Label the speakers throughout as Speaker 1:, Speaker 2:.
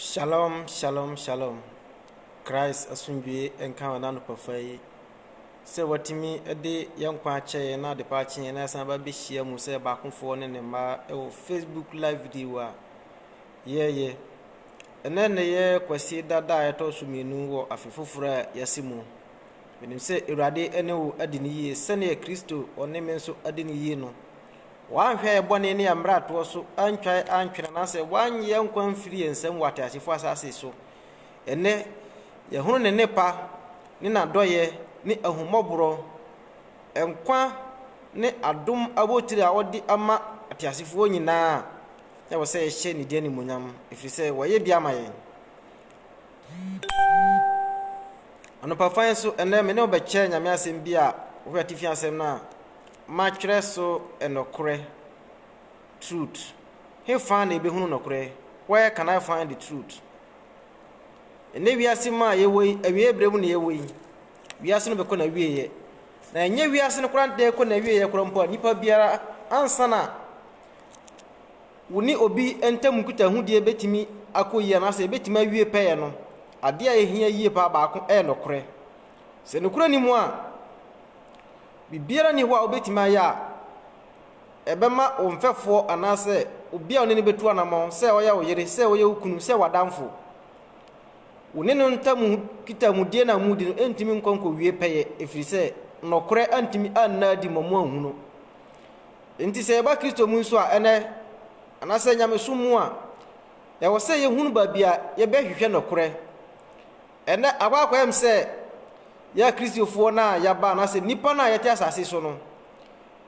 Speaker 1: Shalom shalom shalom Christ asomdwie nka wɔn anɔpafa yi sɛ watumi de yɛn nkwa akyɛ yɛn na adepa akye yɛn na yɛsan ba bɛhyia mu sɛ baakofoɔ ne ne mma wɔ Facebook live video a yɛyɛ ɛnɛ na yɛ kwasi dada a ɛtɔ so mmienu wɔ afe foforɔ a yɛasi mu menim sɛ awurade ne wo adi ne yie sɛdeɛ kristo ɔne me nso adi ne yie no Wɔanhwɛ yɛn bɔne ne yɛn mmaratoɔ so antwa yɛn antwene anaasɛ wɔannye yɛn nkwa amfiri yɛn nsam wɔ ateasefoɔ asase so. Ɛnnɛ, yɛhunu Ne nnepa, ne N'adɔeɛ, ne ahummɔborɔ, nkwa ne adom abotire a Ɔde ama ateasefoɔ nyinaa. Ɛwɔ sɛ yɛhyɛ Ne din animuonyam, ɛfiri sɛ Wayɛ bi ama yɛn. Anɔpafan so ɛnnɛ, me ne wo bɛkyɛ Nyame asɛm bi a wohwɛ atifi asɛm no a, matwerɛ so nokorɛ, truth, hefa na yɛbɛhunu nokorɛ, where can I find the truth? Ɛnɛ wiase mu a yɛwɔ yi, awieɛ berɛ mu na yɛwɔ yi, wiase no bɛkɔ na wieɛ, na ɛnyɛ wiase no koraa deɛ ɛkɔ na wieɛ koraa mpo a, nipa biara ansa na wo ne obi ntam nkutahodie bɛtumi akɔ yie anaasɛ ɛbɛtumi awie pɛyɛ no, adeɛ a ɛhia yie paa baako ɛyɛ nokorɛ. Sɛ nokorɛ ni mu a, Biribiara nni hɔ a wubetumi ayɛ a ɛbɛma wo mfɛfoɔ anaasɛ obi a wo ne no bɛtu anammɔn, sɛ ɔyɛ wo yere, sɛ ɔyɛ wo kunu, sɛ w'adamfo. Wo ne no ntam nkitamudie no a mudi no ntumi nkɔ nkɔwie pɛyɛ, ɛfiri sɛ nokorɛ antumi anna adi ma moanhu no. Enti sɛ yɛba Kristo mu nso a, ɛnnɛ, anaasɛ nyamesom mu a, ɛwɔ sɛ yɛhunu baabi a yɛbɛhwehwɛ nokorɛ. Ɛnnɛ, abɔ akwaayam sɛ yɛn Akristofoɔ no a yɛaba anaasɛ nnipa no a yɛte asase so no,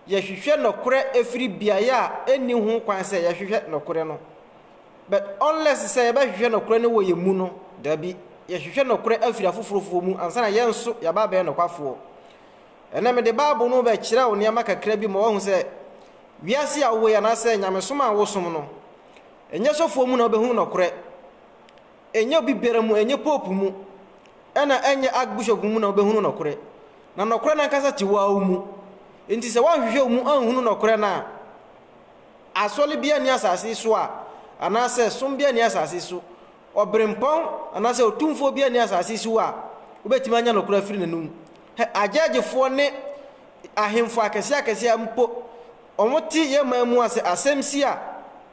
Speaker 1: yɛhwehwɛ nɔkorɛ ɛfiri beaeɛ a ɛnni ho kwan sɛ yɛhwehwɛ nɔkorɛ no. But unless sɛ yɛbɛhwehwɛ nɔkorɛ no wɔ yɛn mu no, dabi, yɛhwehwɛ nɔkorɛ afiri afoforofoɔ mu ansa na yɛn nso yɛaba abɛyɛ nɔkwafoɔ. Ɛnnɛ, mede Bible no rebɛkyerɛ wo nneɛma kakra bi ma woahu sɛ wiase a wowɔ yi anaasɛ nyamesom a wosom no, ɛnyɛ sɔfoɔ mu na wobɛhunu nɔkorɛ. Ɛnyɛ obi biara mu, ɛnyɛ pope mu, ɛna ɛnyɛ archbishop mu na wobɛhunu nɔkorɛ. Na nɔkorɛ no ankasa te wo ara wo mu. Enti sɛ woanhwehwɛ wo mu anhunu nɔkorɛ no a, asɔre biara nni asase yi so a, anaasɛ som biara nni asase yi so, ɔberempɔn anaasɛ otumfoɔ biara nni asase yi so a wobɛtumi anya nɔkorɛ afiri n'anom. Hɛ, agyɛɛgyefoɔ ne ahemfo akɛseɛ akɛseɛ mpo, Wɔte yɛn man mu a, sɛ asɛm si a,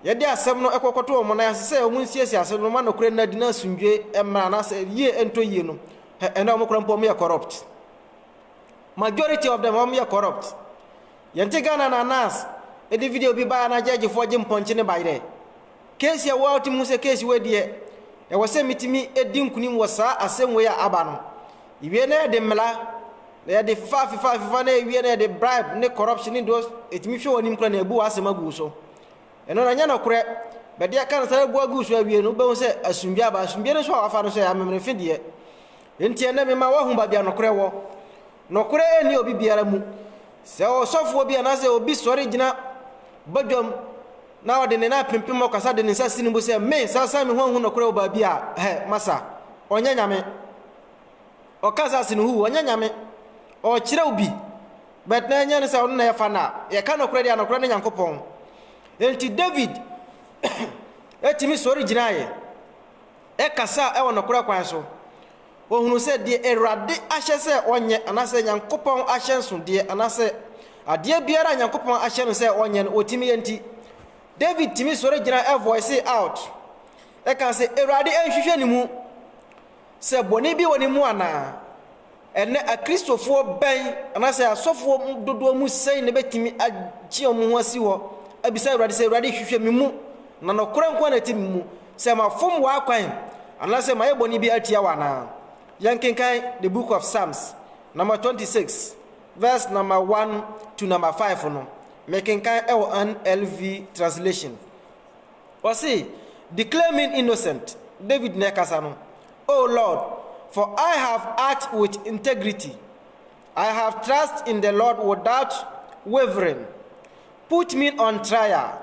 Speaker 1: yɛde asɛm no kɔkɔto wɔn nan ase sɛ wɔnsiesie asɛm no mma nokorɛ nna adi na asomdwoeɛ mmra anaasɛ yie ntɔ yie no. Hɛ, ɛnnɛ wɔn koraa mpo wɔyɛ corrupt. Majority of them wɔyɛ corrupt. Yɛnte Ghana na nurse de video bi baeɛ a na gyɛɛgyefoɔ gye mpɔnkye no baeɛ dɛ. Keesi a woatumi hu sɛ keesi wei deɛ, ɛwɔ sɛ metumi di nkunim wɔ saa asɛm wei a aba no. Yɛwie na yɛde mmara, na yɛde fefa fefa fefa na yɛwie na yɛde bribe ne corruption ne those, ɛtumi hwɛ w'anim koraa na yɛbu w'asɛm agu wo so. Ɛno na ɛnyɛ nokorɛ. Bɛde aka no saa na ɛbu agu wo so awie no, wobɛhu sɛ asomdwie aba. Asomdwie no nso a wafa no nso yɛ amemenefe deɛ. Enti ɛnnɛ mema woahu baabi a nokorɛ wɔ. Nɔkorɛ nni obi biara mu, sɛ ɔsɔfoɔ bi anaasɛ obi sɔre gyina badwam na ɔde ne nan apempem ɔkasa de ne nsa si ne bo sɛ, Me, sasa me ho ahu nɔkorɛ wɔ baabi a, hɛ, masa. Ɔnyɛ Nyame. Ɔka saa sene huu, ɔnyɛ Nyame. Ɔrekyerɛw bi, but na ɛnyɛ ne sɛ ɔno na ɛyɛ fa no a. Yɛka nɔkorɛ deɛ a, nɔkorɛ ne Nyankopɔn. Enti David tumi sɔre gyinaeɛ, ɛkasaa ɛwɔ nɔkorɛ kwan so. Wɔhunuu sɛ deɛ Awurade ahyɛ sɛ wɔnyɛ, anaasɛ Nyankopɔn ahyɛnsodeɛ, anaasɛ adeɛ biara a Nyankopɔn ahyɛ no sɛ wɔnyɛ no, wɔtumi yɛ nti, David tumi sɔre gyina ɛvoicee out, ɛkaa sɛ, Awurade nhwehwɛ ne mu sɛ bɔne bi wɔ ne mu anaa? Ɛnnɛ Akristofoɔ bɛn, anaasɛ asɔfoɔ dodoɔ mu sɛn na ɛbɛtumi agye wɔn ho asi hɔ abisa Awurade sɛ, Awurade hwehwɛ me mu, na nɔkorɛ nko ara na ɛte me mu? Sɛ mafom w'akwan anaasɛ mayɛ bɔne bi atia wo anaa? Yɛnkenkan The Book of Psalms nama 26 verse nama 1 to nama 5 no, mekenkan wɔ NLV translation. Ɔse, Declare me innocent, David na ɛkasa no, O Lord, for I have act with integrity, I have trust in the Lord without wavering, put me on trial,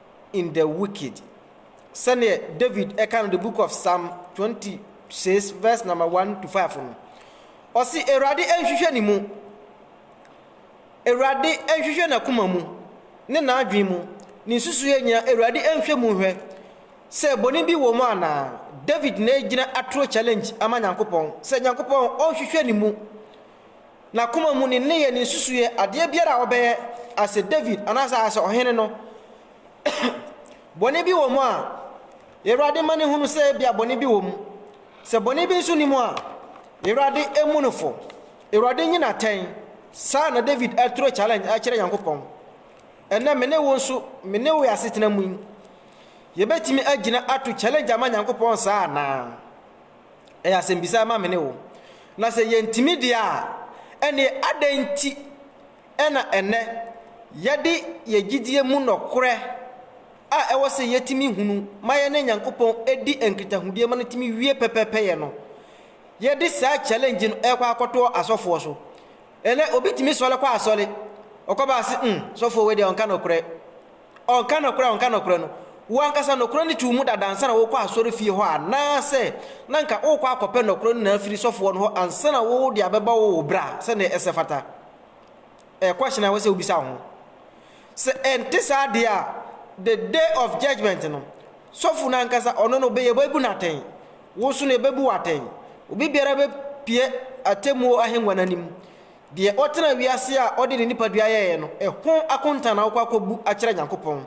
Speaker 1: in the wicked. Sɛdeɛ David ka no the book of Psalm 26 verse number 1 to 5 no, ɔse Awurade nhwehwɛ ne mu, Awurade nhwehwɛ n'akoma mu ne n'adwene mu, ne nsusuiɛ nyinaa Awurade nhwɛ mu hwɛ sɛ bɔne bi wɔ mu anaa. David na ɛgyina atoro challenge ama Nyankopɔn sɛ Nyankopɔn ɔnhwehwɛ ne mu. N'akoma mu, ne nneyɛɛ, ne nsusuiɛ, adeɛ biara a ɔbɛyɛ as a David anaasɛ as ɔhene no, bɔne bi wɔ mu a, Awurade ma no hunu sɛ ebia bɔne bi wɔ mu. Sɛ bɔne bi nso nni mu a, Awurade mmu no fɔ. Awurade nyi no atɛn. Saa na David aturo challenge akyerɛ Nyankopɔn. Ɛnnɛ me ne wo nso, me ne wo yɛ asetena mu yi, yɛbɛtumi agyina ato challenge ama Nyankopɔn saa anaa? Ɛyɛ asɛmbisa ma me ne wo. Na sɛ yɛntumi deɛ a, ɛnneɛ adɛn nti na ɛnnɛ yɛde yɛn gyidie mu nɔkorɛ a ɛwɔ sɛ yɛtumi hunu ma yɛne Nyankopɔn di nkitahodie ma no tumi wie pɛpɛpɛyɛ no, yɛde saa challenge no rekɔ akɔtoɔ asɔfoɔ so? Ɛnɛ obi tumi sɔre kɔ asɔre, ɔkɔba ase, mm, sɔfoɔ wei deɛ ɔnka nɔkorɛ. Ɔnka nokorɛ a ɔnka nokorɛ no, wo ankasa nokorɛ no too mu dada ansa na worekɔ asɔrefie hɔ anaasɛ na anka worekɔ akɔpɛ nokorɛ no nyinaa afiri sɔfoɔ no hɔ ansa na wode abɛba wɔ wo berɛ a sɛdeɛ ɛsɛ fata? Ɛyɛ question a ɛwɔ sɛ wobisa wo ho. Sɛ ɛnte saa deɛ a, the day of judgment no, sɔfo no ankasa ɔno no bɛyɛ bɛbu no atɛn, wo nso no ɛbɛbu wo atɛn. Obi biara bɛpue atemmuo ahengua no anim Deɛ ɔtenaa wiase a ɔde ne nipadua yɛeɛ no, ɛho akonta na wokɔ akɔbu akyerɛ Nyankopɔn.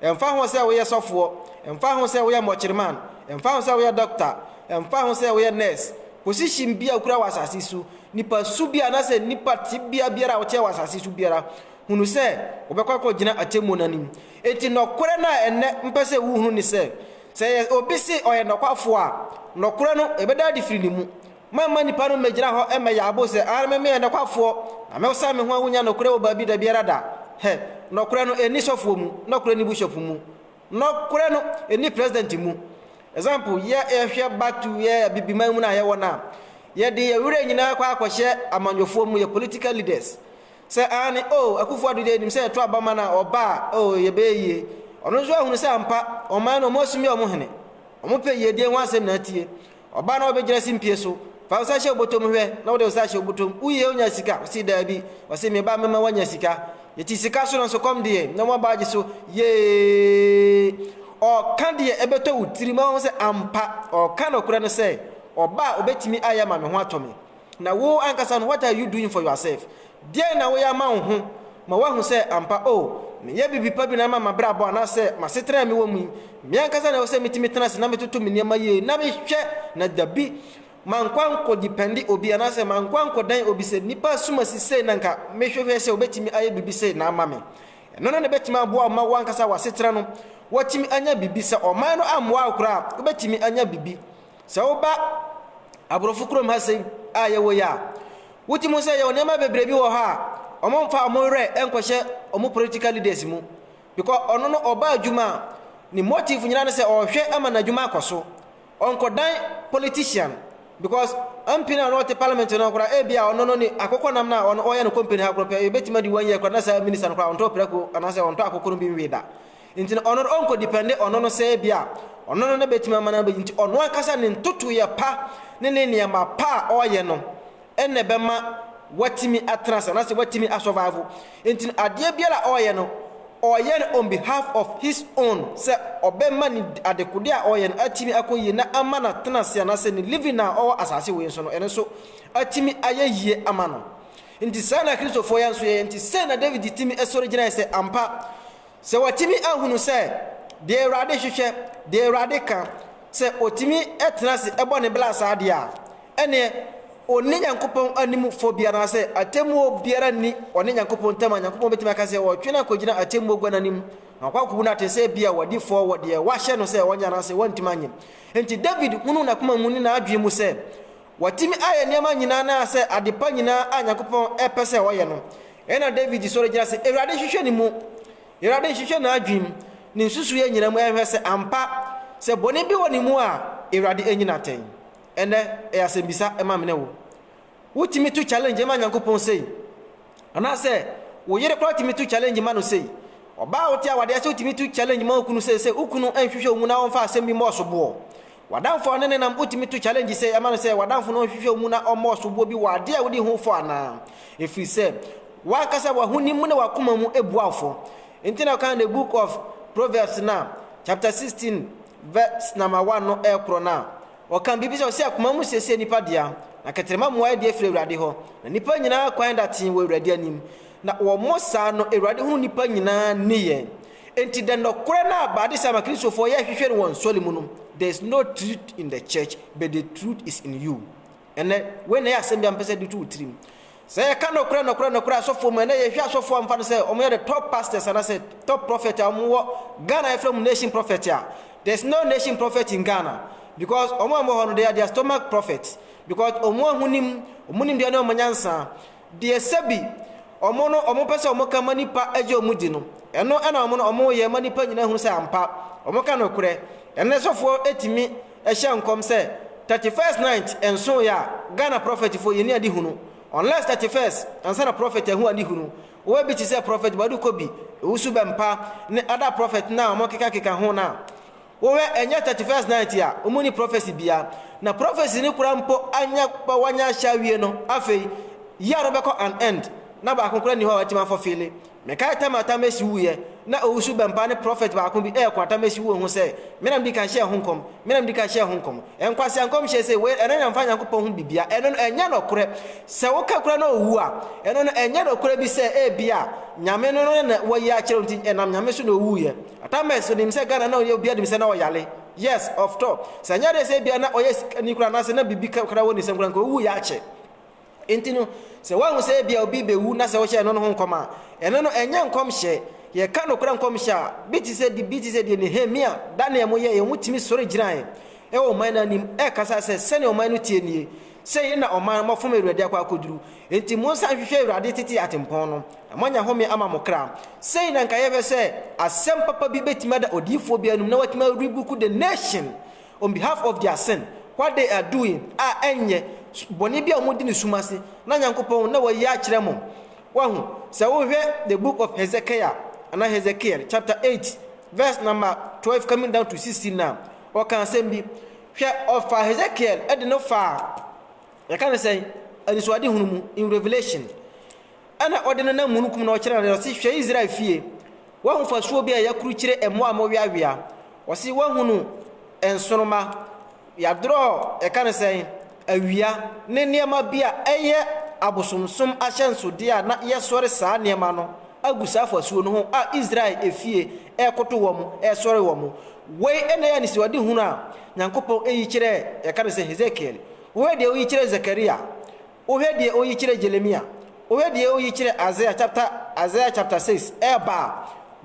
Speaker 1: Ɛmfa ho sɛ woyɛ sɔfoɔ, ɛmfa ho sɛ woyɛ mɔkyereman, ɛmfa ho sɛ woyɛ dɔkta, ɛmfa ho sɛ woyɛ nurse, position bi a wokura wɔ asase yi so, nipa su bi anaasɛ nnipa tebea biara a woteɛ wɔ asase yi so biara, hunu sɛ wobɛkɔ akɔgyina atemmuo no anim. Enti nɔkorɛ no a ɛnnɛ mpɛ sɛ wohunu ne sɛ, sɛ obi se ɔyɛ nɔkwafoɔ a, nɔkorɛ no ɛbɛda adi firi ne mu. Meremma nnipa no mmɛgyina hɔ mmɛyɛ abo sɛ, Aane, me meyɛ nɔkwafoɔ, na mesan me ho a wonnya nɔkorɛ wɔ baabi dabiara da. Hɛ! Nɔkorɛ no ɛnni sɔfoɔ mu, nɔkorɛ nni buhyɔpo mu, nɔkorɛ no ɛnni president mu. Example, yɛ yɛhwɛ back to yɛ Abibiman mu no a yɛwɔ no a, yɛde yɛ werɛ nyinaa kɔ akɔhyɛ amanyɔfoɔ mu, yɛ political leaders. Sɛ, aane, oh, Akuffo Addo deɛ yɛnim sɛ yɛto aba ma no a, ɔba a, oh, yɛbɛyɛ yie. Ɔno nso ahunu sɛ ampa, ɔman no wɔn asumi wɔn hene. Wɔn pɛ yiedie ho asɛm na atie. Ɔbaa na ɔbɛgyina simpie so. Fa wo nsa hyɛ wo bɔtɔm hwɛ, na wode wo nsa ahyɛ wo bɔtɔm. Woyie wonya sika? Ɔse daabi. Ɔse me ba mɛma woanya sika. Yɛte sika so nanso kɔm deɛ, na mo abaa gye so. Yeeeee! Ɔɔka deɛ ɛbɛtɔ wo tirim, na woahu sɛ ampa, ɔɔka nɔkorɛ no sɛ, Ɔbaa a ɔbɛtumi ayɛ ama me ho atɔ me. Na wo ankasa no, what are you doing for yourself? Deɛn na woyɛ ama wo ho ma woahu sɛ ampa, oh, meyɛ biribi pa bi na ama m'abrabɔ anaasɛ m'asetena a mewɔ mu yi, me ankasa na ɛwɔ sɛ metumi tena ase na metoto me nneɛma yie na mehwɛ na dabi mankɔ ankɔdipɛnde obi anaasɛ mankɔ ankɔdan obi sɛ nnipa som asi sei na nka mehwehwɛ sɛ wɔbɛtumi ayɛ biribi sei na ama me. Ɛno no na ɛbɛtumi aboa wo ma wo ankasa w'asetena no woatumi anya biribi. Sɛ ɔman no ammoa wo koraa a, wobɛtumi anya biribi. Sɛ woba aborɔfo kurom ha sɛi a yɛwɔ yi a, wogye mu sɛ yɛwɔ nneɛma bebree bi wɔ hɔ a wɔmfa wɔn werɛ nkɔhyɛ wɔn political leaders mu because ɔno no ɔba adwuma a ne motive nyinaa ne sɛ ɔrehwɛ ama n'adwuma akɔ so ɔnkɔdan politician because MP no a na ɔte parliament no koraa ebi a ɔno no ne akokɔ nam no a ɔno ɔyɛ no company ha koraa pɛ ebetumi adi one year koraa na saa minister no koraa ɔntɔ prɛko anaasɛ ɔntɔ akokɔ no bi nwie da Nti no ɔno no ɔnkɔ depende ɔno no sɛ ebia ɔno no na bɛtumi ama no abɛyi nti ɔno ankasa ne ntotoeɛ pa ne ne nneɛma pa a ɔreyɛ no ɛna ɛbɛma watumi atena ase anaasɛ watumi asɔvaivo nti no adeɛ biara a ɔreyɛ no ɔreyɛ no on behalf of his own sɛ ɔbɛma ne adekode a ɔreyɛ no atumi akɔ yie na ama no atena ase anaasɛ ne living a ɔwɔ asase wei nso no ɛno nso atumi ayɛ yie ama no nti saa na kristofoɔ yɛ nso yɛyɛ nti sɛ na David tumi sɔre gyinae sɛ ampa Sɛ wɔatumi ahunu sɛ deɛ Awurade hwehwɛ, deɛ Awurade ka, sɛ ɔtumi tena ase bɔ ne bra saa deɛ a, ɛnneɛ ɔnni Nyankopɔn anim fɔ biara anaasɛ atemmuo biara nni ɔne Nyankopɔn ntam a Nyankopɔn bɛtumi aka sɛ ɔretwe no akɔgyina atemmuo gua no anim na wakɔ akɔbu no atɛn sɛ ebia wadi fɔ wɔ deɛ wahyɛ no sɛ ɔnyɛ anaasɛ wantumi anyɛ. Enti David hunuu n'akoma mu ne n'adwene mu sɛ Watumi ayɛ nneɛma nyinaa anaasɛ adepa nyinaa a Nyankopɔn pɛ sɛ ɔyɛ no. Ɛyɛ na David sɔre gyina se, Awurade hwehwɛ ne mu. Awurade nhwehwɛ n'adwenem, ne nsusuiɛ nyinaa mu ɛhwɛ sɛ ampa, sɛ bɔne bi wɔ ne mu a, Awurade anyi no atɛn. Ɛnnɛ, ɛyɛ asɛmbisa ma me ne wo. Wotumi to challenge ma Nyankopɔn sei? Anaasɛ wo yere koraa tumi to challenge ma no sei? Ɔbaa a wote awadeɛ ase wotumi to challenge ma wo kunu sei sɛ wo kunu nhwehwɛ wo mu na ɔmfa asɛm bi mmɔ wo soboɔ? W'adamfo a ɔne ne nam wotumi to challenge sɛ ɛma no sɛ w'adamfo no nhwehwɛ wo mu na ɔmmɔ ɔsoboɔ bi wɔ adeɛ a wode ho fɔ anaa? Ɛfiri sɛ w'ankasa w'ahonim mu ne w'akoma mu bua wo fɔ. Nti na ɔkaa the book of Proverbs no a chapter 16 verse number 1 no ɛkorɔ no a ɔkaa biribi sɛ ɔse akoma mu siesie nipa dea na kɛtrɛma mmuaeɛ deɛ firi Awurade hɔ na nipa nyinaa kwan da tee wɔ Awurade anim na wɔmmɔ saa no Awurade hunu nipa nyinaa nneyɛɛ Enti dɛ nɔkorɛ no a baadesama Kristofoɔ yɛ hwehwɛ no wɔ nsɔre mu no, there is no truth in the church but the truth is in you. Ɛnnɛ, wei na ɛyɛ asɛm bi a mepɛ sɛ yɛde to wo tirim. Sɛ yɛka nɔkorɛ nɔkorɛ nɔkorɛ asɔfoɔ mu a, ɛnnɛ yɛhwɛ asɔfoɔ a wɔfa no sɛ wɔyɛ the top pastors anaasɛ top prophet a wɔwɔ Ghana a yɛfrɛ wɔn nation prophet a, there is no nation prophet in Ghana because wɔn a wɔwɔ hɔ no they are their stomach prophets because wɔn ahonim, wɔn nimdeɛ ne wɔn nyansa. Deɛ sɛbi wɔn no wɔn pɛ sɛ wɔn ka ma nipa gye wɔn di no, ɛno ɛna wɔn no wɔn yɛ ma nipa nyinaa hu sɛ ampa wɔn ka nokorɛ. Ɛnnɛ sɔfoɔ ɛtumi ɛhyɛ nkɔm sɛ 31st night ɛnso yɛ a Ghana prophet foɔ yɛnni ade hunu unless 31st ansa na prophet ahu ade hunu wowɔ bi te sɛ prophet Boadu Kobi, Owusu Bɛmpa ne other prophet no a wɔn keka keka ho no a. Wo hwɛ ɛnyɛ thirty first night a ɔmo nni prophecy biaa na prophecy no koraa mpo anyɛ ma wanya ahyɛ awie no afei year no bɛkɔ an end na baako koraa nni hɔ a watumi afulfille Mekae time a Tamesi wuuiɛ na Owusu Bɛmpa ne prophet baako bi ɛɛko Atamesi wuo ho sɛ me na medi kan hyɛɛ ho nkɔm me na medi kan hyɛɛ ho nkɔm Nkwasea nkɔmhyɛ sei wei ɛno nyɛmfa Nyankopɔn ho bibia ɛno no ɛnyɛ nɔkorɛ sɛ woka koraa na ɔwu a ɛno no ɛnyɛ nɔkorɛ bi sɛ ebia Nyame no no na wayi akyerɛ wo nti ɛnam Nyame so na ɔwuuiɛ Atamers onim sɛ Ghana na ɔyɛ obiara nim sɛ na ɔyare yes of tɔ sɛ nyɛ adeɛ sɛ ebia na ɔyɛ sikani koraa anaasɛ na biribi koraa wɔ ne nsam koraa nka ɔwu yɛ akyɛ nti no sɛ woahu sɛ ebia obi bɛwu na sɛ wohyɛ ɛno no ho nkɔm a ɛno no ɛnyɛ nkɔmhyɛ yɛka nokorɛ nkɔmhyɛ a bi te sɛ bi te sɛ deɛ Nehemia Daniel mo yɛɛ yɛn mo tumi sɔre gyinae ɛwɔ ɔman no anim ɛkasa sɛ sɛnea ɔman no tie nie sɛ yei na ɔman mafom awurade akɔ akɔduru nti monsan hwehwɛ awurade tete atempɔn no Na moanya home ama mo kra. Sei na nka yɛhwɛ sɛ asɛm papa bi bɛtumi ada odiyifoɔ bi anum na watumi a rebuku the nation on behalf of their sin what they are doing a ɛnyɛ bɔne bi a wɔdi ne sum ase na Nyankopɔn na wayi akyerɛ mo wahu sɛ wohwɛ the book of Hezekiah anaa Hezekiel chapter 8 verse number 12 coming down to 16 na ɔka asɛm bi hwɛ ɔfa Hezekiel de no faa yɛka ne sɛn anisoade hunu mu in revelation Ɛnna ɔde nenam mununkum na ɔkyerɛɛ no, ɔse, Hwɛ Israel fie, woahu fasuo bi a yɛakrukyire mmoa a moweawea? Ɔse, Woahunu nsoromma, yɛadrɔ, yɛka no sɛn? Awia, ne nneɛma bi a ɛyɛ abosomsom ahyɛnsodeɛ a na yɛsɔre saa nneɛma no agu saa fasuo no ho a Israel efie rekoto wɔn, resɔre wɔn. Wei na ɛyɛ anisoadehunu a Nyankopɔn yi kyerɛɛ, yɛka no sɛ, Hesekiel. Wei deɛ woyi kyerɛɛ Zakaria. Wohwɛ deɛ oyi kyerɛ Jeremia, wohwɛ deɛ oyi kyerɛ Isaiah chapter Isaiah chapter six ɛɛba a,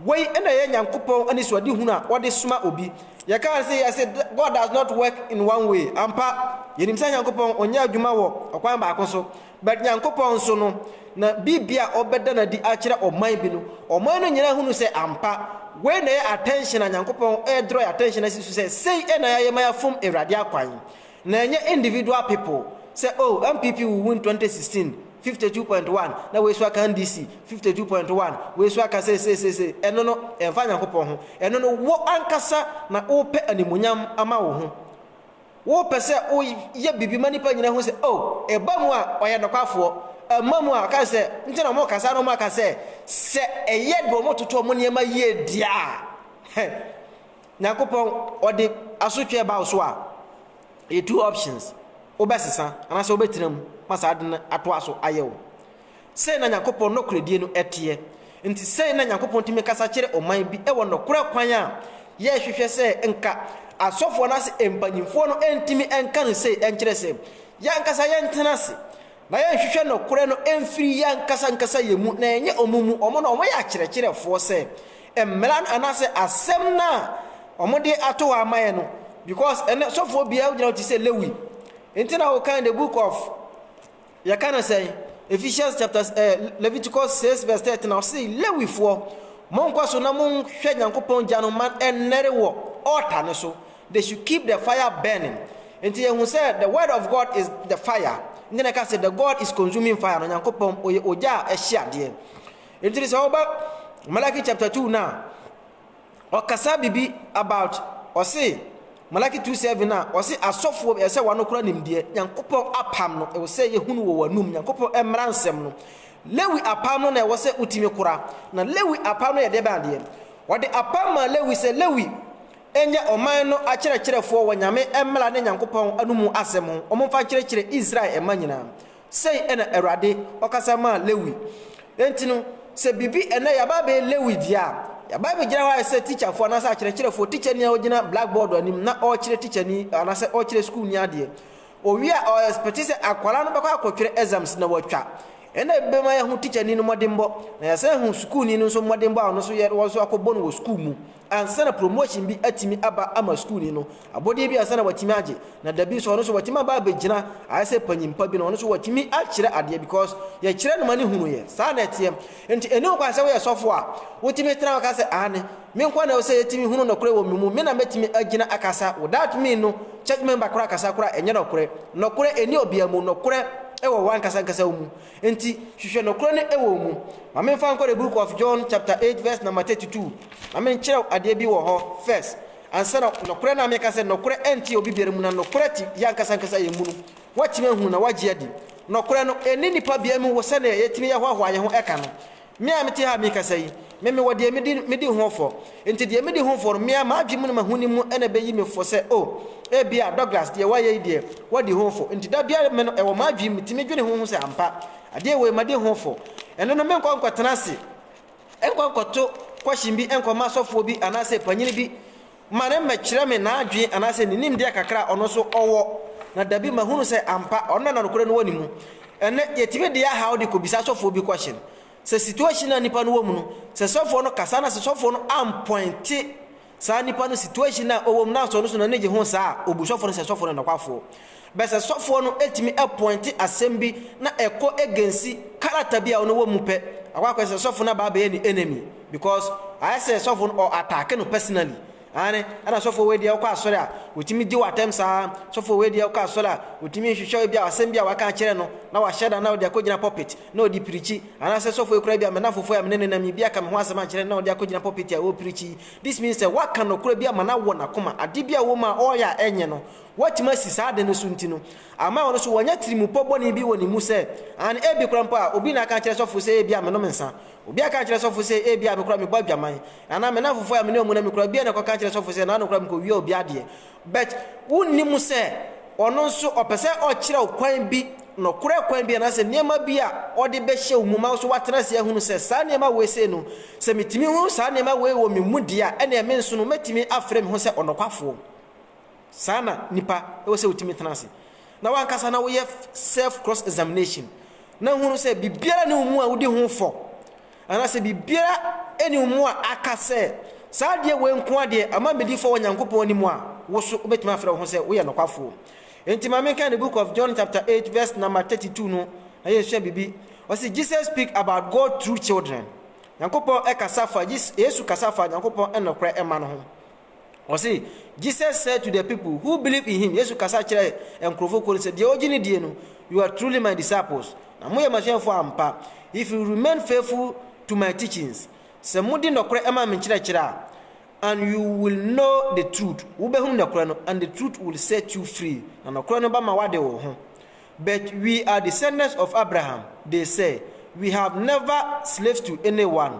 Speaker 1: wei na ɛyɛ Nyankopɔn anisoadehunu a ɔde soma obi. Yɛka no sɛ yɛse God does not work in one way, ampa, yɛnim sɛ Nyankopɔn ɔnyɛ adwuma wɔ ɔkwan baako so, but Nyankopɔn nso no, na biribi a ɔbɛda no adi akyerɛ ɔman bi no, ɔman no nyinaa hunu sɛ ampa, wei na ɛyɛ attention a Nyankopɔn ɛɛdraw yɛn attention asi so sɛ sei na yɛayɛ ma yɛafom Awurade akwan. Na ɛnyɛ individual people sɛ oh NPP will win 2016, fifty two point one, na wei so aka NDC, fifty two point one, wei so aka seiseisei, ɛno no ɛmfa Nyankopɔn ho, ɛno no wo ankasa na wopɛ animuonyam ama wo ho, wopɛ sɛ wo yɛ biribi ma nnipa nyina hu sɛ oh ɛba mu a ɔyɛ nɔkwafoɔ, ɛmma mu a ɔka sɛ nti na wɔn ka saa na wɔn aka sɛ sɛ ɛyɛ deɛ wɔn toto wɔn nneɛma yie deɛ a hɛ. Nyankopɔn ɔde asotwee ba wo so a ɛyɛ two options wobɛsesa anaasɛ wobɛtena mu ma saa ade no atoa so ayɛ wo. Sei na Nyankopɔn nɔkorɛdie no teɛ. Nti sei na Nyankopɔn tumi kasa kyerɛ ɔman bi wɔ nɔkorɛ kwan a yɛhwehwɛ sɛ nka asɔfoɔ anaasɛ mpanyinfoɔ no ntumi nka no sei nkyerɛ sɛ yɛankasa yɛntena ase na yɛnhwehwɛ nɔkorɛ no mfiri yɛankasa ankasa yɛn mu na ɛnyɛ wɔn mu wɔn na wɔyɛ akyerɛkyerɛfoɔ sɛ mmara no anaasɛ asɛm no a wɔde ato hɔ ama yɛ no because ɛnɛ sɔfoɔ biara wogyina te sɛ Lewi nti na wokan the book of yɛka no sɛn Ephesians chapter eh, Leviticus 6 verse 13 na ɔse Lewifoɔ monkɔ so na monhwɛ Nyankopɔn gya no ma ɛnnɛre wɔ altar no so they should keep the fire burning nti yɛhu sɛ the word of God is the fire nti na ɛka sɛ the God is consuming fire no Nyankopɔn ɔyɛ ogya a ɛhye adeɛ Nti no sɛ woba Malachi chapter two no a, ɔkasa biribi about ɔse Malachi two seven no a, ɔse asɔfoɔ ɛsɛ sɛ wɔanokora nimdeɛ, Nyankopɔn apam no, ɛwɔ sɛ yɛhu no wɔ w'anum, Nyankopɔn mmara nsɛm no. Lewi apam no na ɛwɔ sɛ wotumi kora, na Lewi apam no yɛ deɛ bɛn adeɛ? Wɔde apam maa Lewi sɛ Lewi nyɛ ɔman no akyerɛkyerɛfoɔ wɔ Nyame mmara ne Nyankopɔn anum asɛm ho, wɔmfa nkyerɛkyerɛ Israel mma nyinaa. Sei na Awurade ɔkasa maa Lewi. Enti no, sɛ biribi ɛnnɛ yɛaba abɛyɛ Lewi deɛ a, yɛaba abɛgyina hɔ ayɛ sɛ tikyafoɔ anaasɛ akyerɛkyerɛfoɔ, tikyani a ɔgyina blackboard anim na ɔrekyerɛ tikyani anaasɛ ɔrekyerɛ sukuuni adeɛ. Ɔwie a, ɔɛspɛte sɛ akwadaa no bɛkɔ akɔtwerɛ exams na watwa. Ɛnna ebi bɛma yɛahu tikyani no mmɔdenbɔ, na yɛasan ahu sukuuni no nso mmɔdenbɔ a ɔno nso yɛ na wɔn nso akɔbɔ no wɔ sukuu mu ansa na promotion bi atumi aba ama sukuuni no. Abɔdeɛ bi ansa na watumi agye na dabi nso ɔno nso watumi aba abɛgyina ayɛ sɛ panyin pa bi na ɔno nso watumi akyerɛ adeɛ because yɛkyerɛ no ma no hunu yɛ saa na ɛteɛ nti ɛni ho kwan sɛ woyɛ sɔfo a wotumi tena hɔ ka sɛ aane me nko ara na ɛwɔ sɛ yɛtumi hunu nɔkorɛ wɔ me mu me na mɛtumi agyina akasa wo that mean no church member koraa kasa koraa ɛnyɛ nɔkorɛ nɔkorɛ ɛni obia mu nɔkorɛ ɛwɔ wankasa nkasa wo mu nti hwehwɛ nɔkorɛ no ɛwɔ wo mu ma memfa nkɔ the book of John chapter 8 verse number 32 ma menkyerɛ wo adeɛ bi wɔ hɔ first Ansa na, nokorɛ no a meka sɛ nokorɛ ɛnte obi biara mu na nokorɛ te yɛn ankasa ankasa yɛn mu no, woatumi ahunu na woagye adi. Nokorɛ no, ɛnni nnipa biara mu wɔ sɛdeɛ yɛtumi yɛ hoahoa yɛn ho ɛka no. Me a mete ha a merekasa yi, me mewɔ deɛ medi medi ho fɔ. Enti deɛ medi ho fɔ no, me ara m'adwene mu ne m'ahonim mu na ɛbɛyi me fɔ sɛ, oh, ebia Douglas deɛ wayɛ yi deɛ, wadi ho fɔ. Enti da biara me no ɛwɔ m'adwene mu, metumi dwene ho ho sɛ ampa, adeɛ wei madi ho fɔ. Ɛno no menkɔ nkɔtena ase. Nkɔ nkɔto question bi nkɔma asɔfoɔ bi anaasɛ panyini bi ma no mmɛkyerɛ me n'adwene anaasɛ ne nimdeɛ kakra a ɔno nso ɔwɔ, na dabi mahunu sɛ ampa ɔno na na nokorɛ no wɔ ne mu. Ɛnnɛ, yɛtumi de yɛn haw de kɔbisa asɔfoɔ bi question. Sɛ situation a nipa no wɔ mu no, sɛ sɔfoɔ no kasa na sɛ sɔfoɔ no ampɔinte, Saa nipa no situation a ɔwɔ mu na sɔɔ no so na n'ani gye ho saa a, obu sɔfoɔ no sɛ sɔfoɔ no yɛ nɔkwafoɔ. But sɛ sɔfoɔ no tumi pointe asɛm bi na ɛkɔ against character bi a ɔno wɔ mu pɛ, akɔ akɔyɛ sɛ sɔfoɔ no aba abɛyɛ ne enemy because ayɛ sɛ sɔfoɔ no ɔ attack no personally. Aane, ɛna sɔfoɔ wei deɛ wokɔ asɔre a, ɔtumi gye wo atɛm saa, sɔfoɔ wei deɛ wokɔ asɔre a, ɔtumi hwehwɛ ebi a asɛm bi a waka akyerɛ no na wahyɛ da na ɔde akɔgyina pulpit. na ɔde pirikyi, anaasɛ sɔfoɔ yi koraa bi a me nnamfofoɔ yi a me ne no nam yi bi aka me ho asɛm ankyerɛ no na ɔde akɔgyina pulpit a ɛwɔ pirikyi yi, this means sɛ waka nokorɛ bi ama no awɔ n'akoma, adeɛ bi a ɛwɔ mu a ɔreyɛ a ɛnyɛ no, watumi asi saa ade no so nti no, ama ɔno nso wanya tirimupɔ bɔne bi wɔ ne mu sɛ, aane, ebi koraa mpo a obi na aka akyerɛ sɔfoɔ sɛ ebia menom nsa, obi aka akyerɛ sɔfoɔ sɛ ebia me koraa mebɔ adwaman, anaa me nnamfofoɔ yi a me ne wɔn nam yi koraa, obiara na ɛkɔka akyerɛ sɔfoɔ sɛ naano koraa mekɔwia obi adeɛ, But wonnim sɛ ɔno nso ɔpɛ sɛ ɔkyerɛ wo kwan bi, nɔkorɛ kwan bi anaasɛ nneɛma bi a ɔde bɛhyɛ wo mu ma wo nso woatena ase ahunu sɛ saa nneɛma wei sei no, sɛ metumi hunu saa nneɛma wei wɔ me mu deɛ a, ɛnneɛ me nso no mɛtumi afrɛ me ho sɛ ɔnɔkwafoɔ. Saa na nipa ɛwɔ sɛ wotumi tena ase na wankasa na woyɛ self cross examination na hunu sɛ biribiara ne wo mu a wodi ho fɔ. Anaasɛ biribiara nni wo mu a aka sɛ, Saa adeɛ wei nko ara deɛ ama medi fɔ wɔ Nyankopɔn anim a, wo so wobɛtumi afrɛ wo ho sɛ woyɛ nokwafoɔ. Enti ma menkan The Book of John chapter 8 verse number 32 no na yɛnsua biribi. Ɔse, Jesus speak about God through children. Nyankopɔn kasa fa, Yesu kasa fa Nyankopɔn nokorɛ mma no ho. Ɔse, Jesus said to the people who believed in him, Yesu kasa kyerɛɛ nkorɔfoɔ kuo no sɛ, Deɛ ɔgye no die no, you are truly my disciples, na moyɛ m'asuafoɔ ampa, if you remain faithful to my teachings, sɛ modi nɔkorɛ ma me nkyerɛkyerɛ a, and you will know the truth, wobɛhunu nɔkorɛ no, and the truth will set you free, na nɔkorɛ no bɛma wade wo ho. But we are descendants of Abraham, they said, we have never slaves to anyone.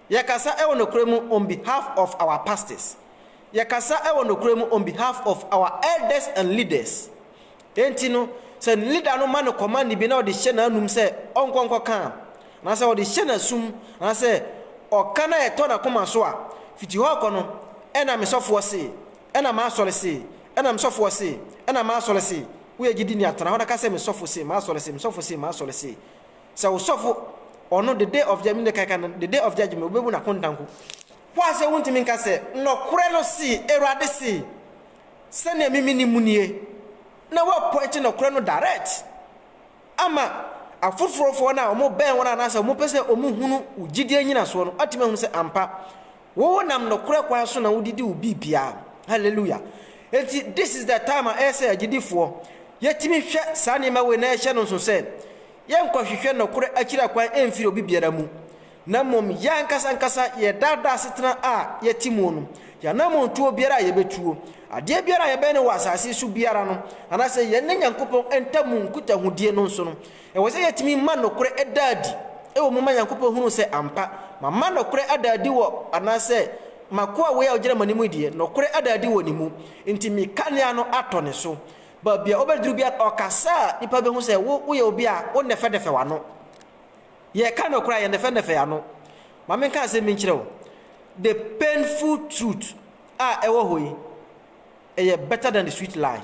Speaker 1: Yɛkasa wɔ nokorɛ mu on behalf of our pastors. Yɛkasa wɔ nokorɛ mu on behalf of our elders and leaders. Enti no, sɛ leader no ma no command bi na ɔde hyɛ n'anum sɛ ɔnkɔ nkɔka a, anaasɛ ɔde hyɛ n'asum, anaasɛ ɔka na ɛtɔ n'akoma so a, fiti hɔ kɔ no, ɛna me sɔfoɔ se, ɛna m'asɔre se, ɛna me sɔfoɔ se, ɛna m'asɔre se, woyɛ gyidini a, tena hɔ na ka sɛ, me sɔfo se, m'asɔre se, me sɔfo se, m'asɔre se. Sɛ wo sɔfo, ɔno, the day of judgment, ne kae ka no, the day of judgment, wobebu no akontanku. Wo a sɛ wuntumi nka sɛ, Nɔkorɛ no se, Awurade se, sɛnea me me nim nie, na woapɔinte nɔkorɛ no direct ama afoforɔfoɔ no a wɔbɛn wɔn anaasɛ wɔpɛ sɛ wɔhunu wo gyidie nnyinasoɔ no atumi ahunu sɛ ampa Wo nam nokorɛ kwan so na wo didi wo biribiara. Hallelujah. Enti this is the time a ɛyɛ sɛ agyidifoɔ, yɛtumi hwɛ saa nneɛma wei na yɛhyɛ no nso sɛ, yɛnkɔhwehwɛ nokorɛ akyira kwan mfiri obi biara mu, na mmom yɛn ankasa ankasa yɛn daa daa asetena a yɛte muo no, yɛn anammɔntuo biara a yɛbɛtuo, adeɛ biara a yɛbɛyɛ no wɔ asase so biara no, anaasɛ yɛne Nyankopɔn ntamu nkutahodie no nso no, Ɛwɔ sɛ yɛtumi ma nokorɛ da adi wɔ mu ma Nyankopɔn hunu sɛ ampa mama nokorɛ ada adi wɔ anaasɛ m'akoa wei a ɔgyina m'anim yi deɛ, nokorɛ ada adi wɔ ne mu, nti me kanea no atɔ ne so. Baabi a wobɛduru biara, ɔkasa a, nnipa bɛhu sɛ wo, woyɛ obi a wonnɛfɛnnɛfɛ w'ano. Yɛreka nokorɛ a, yɛnnɛfɛnnɛfɛ yɛn ano. Ma menka asɛm bi nkyerɛ wo, the painful truth a ɛwɔ hɔ yi, Ɛyɛ better than the sweet lie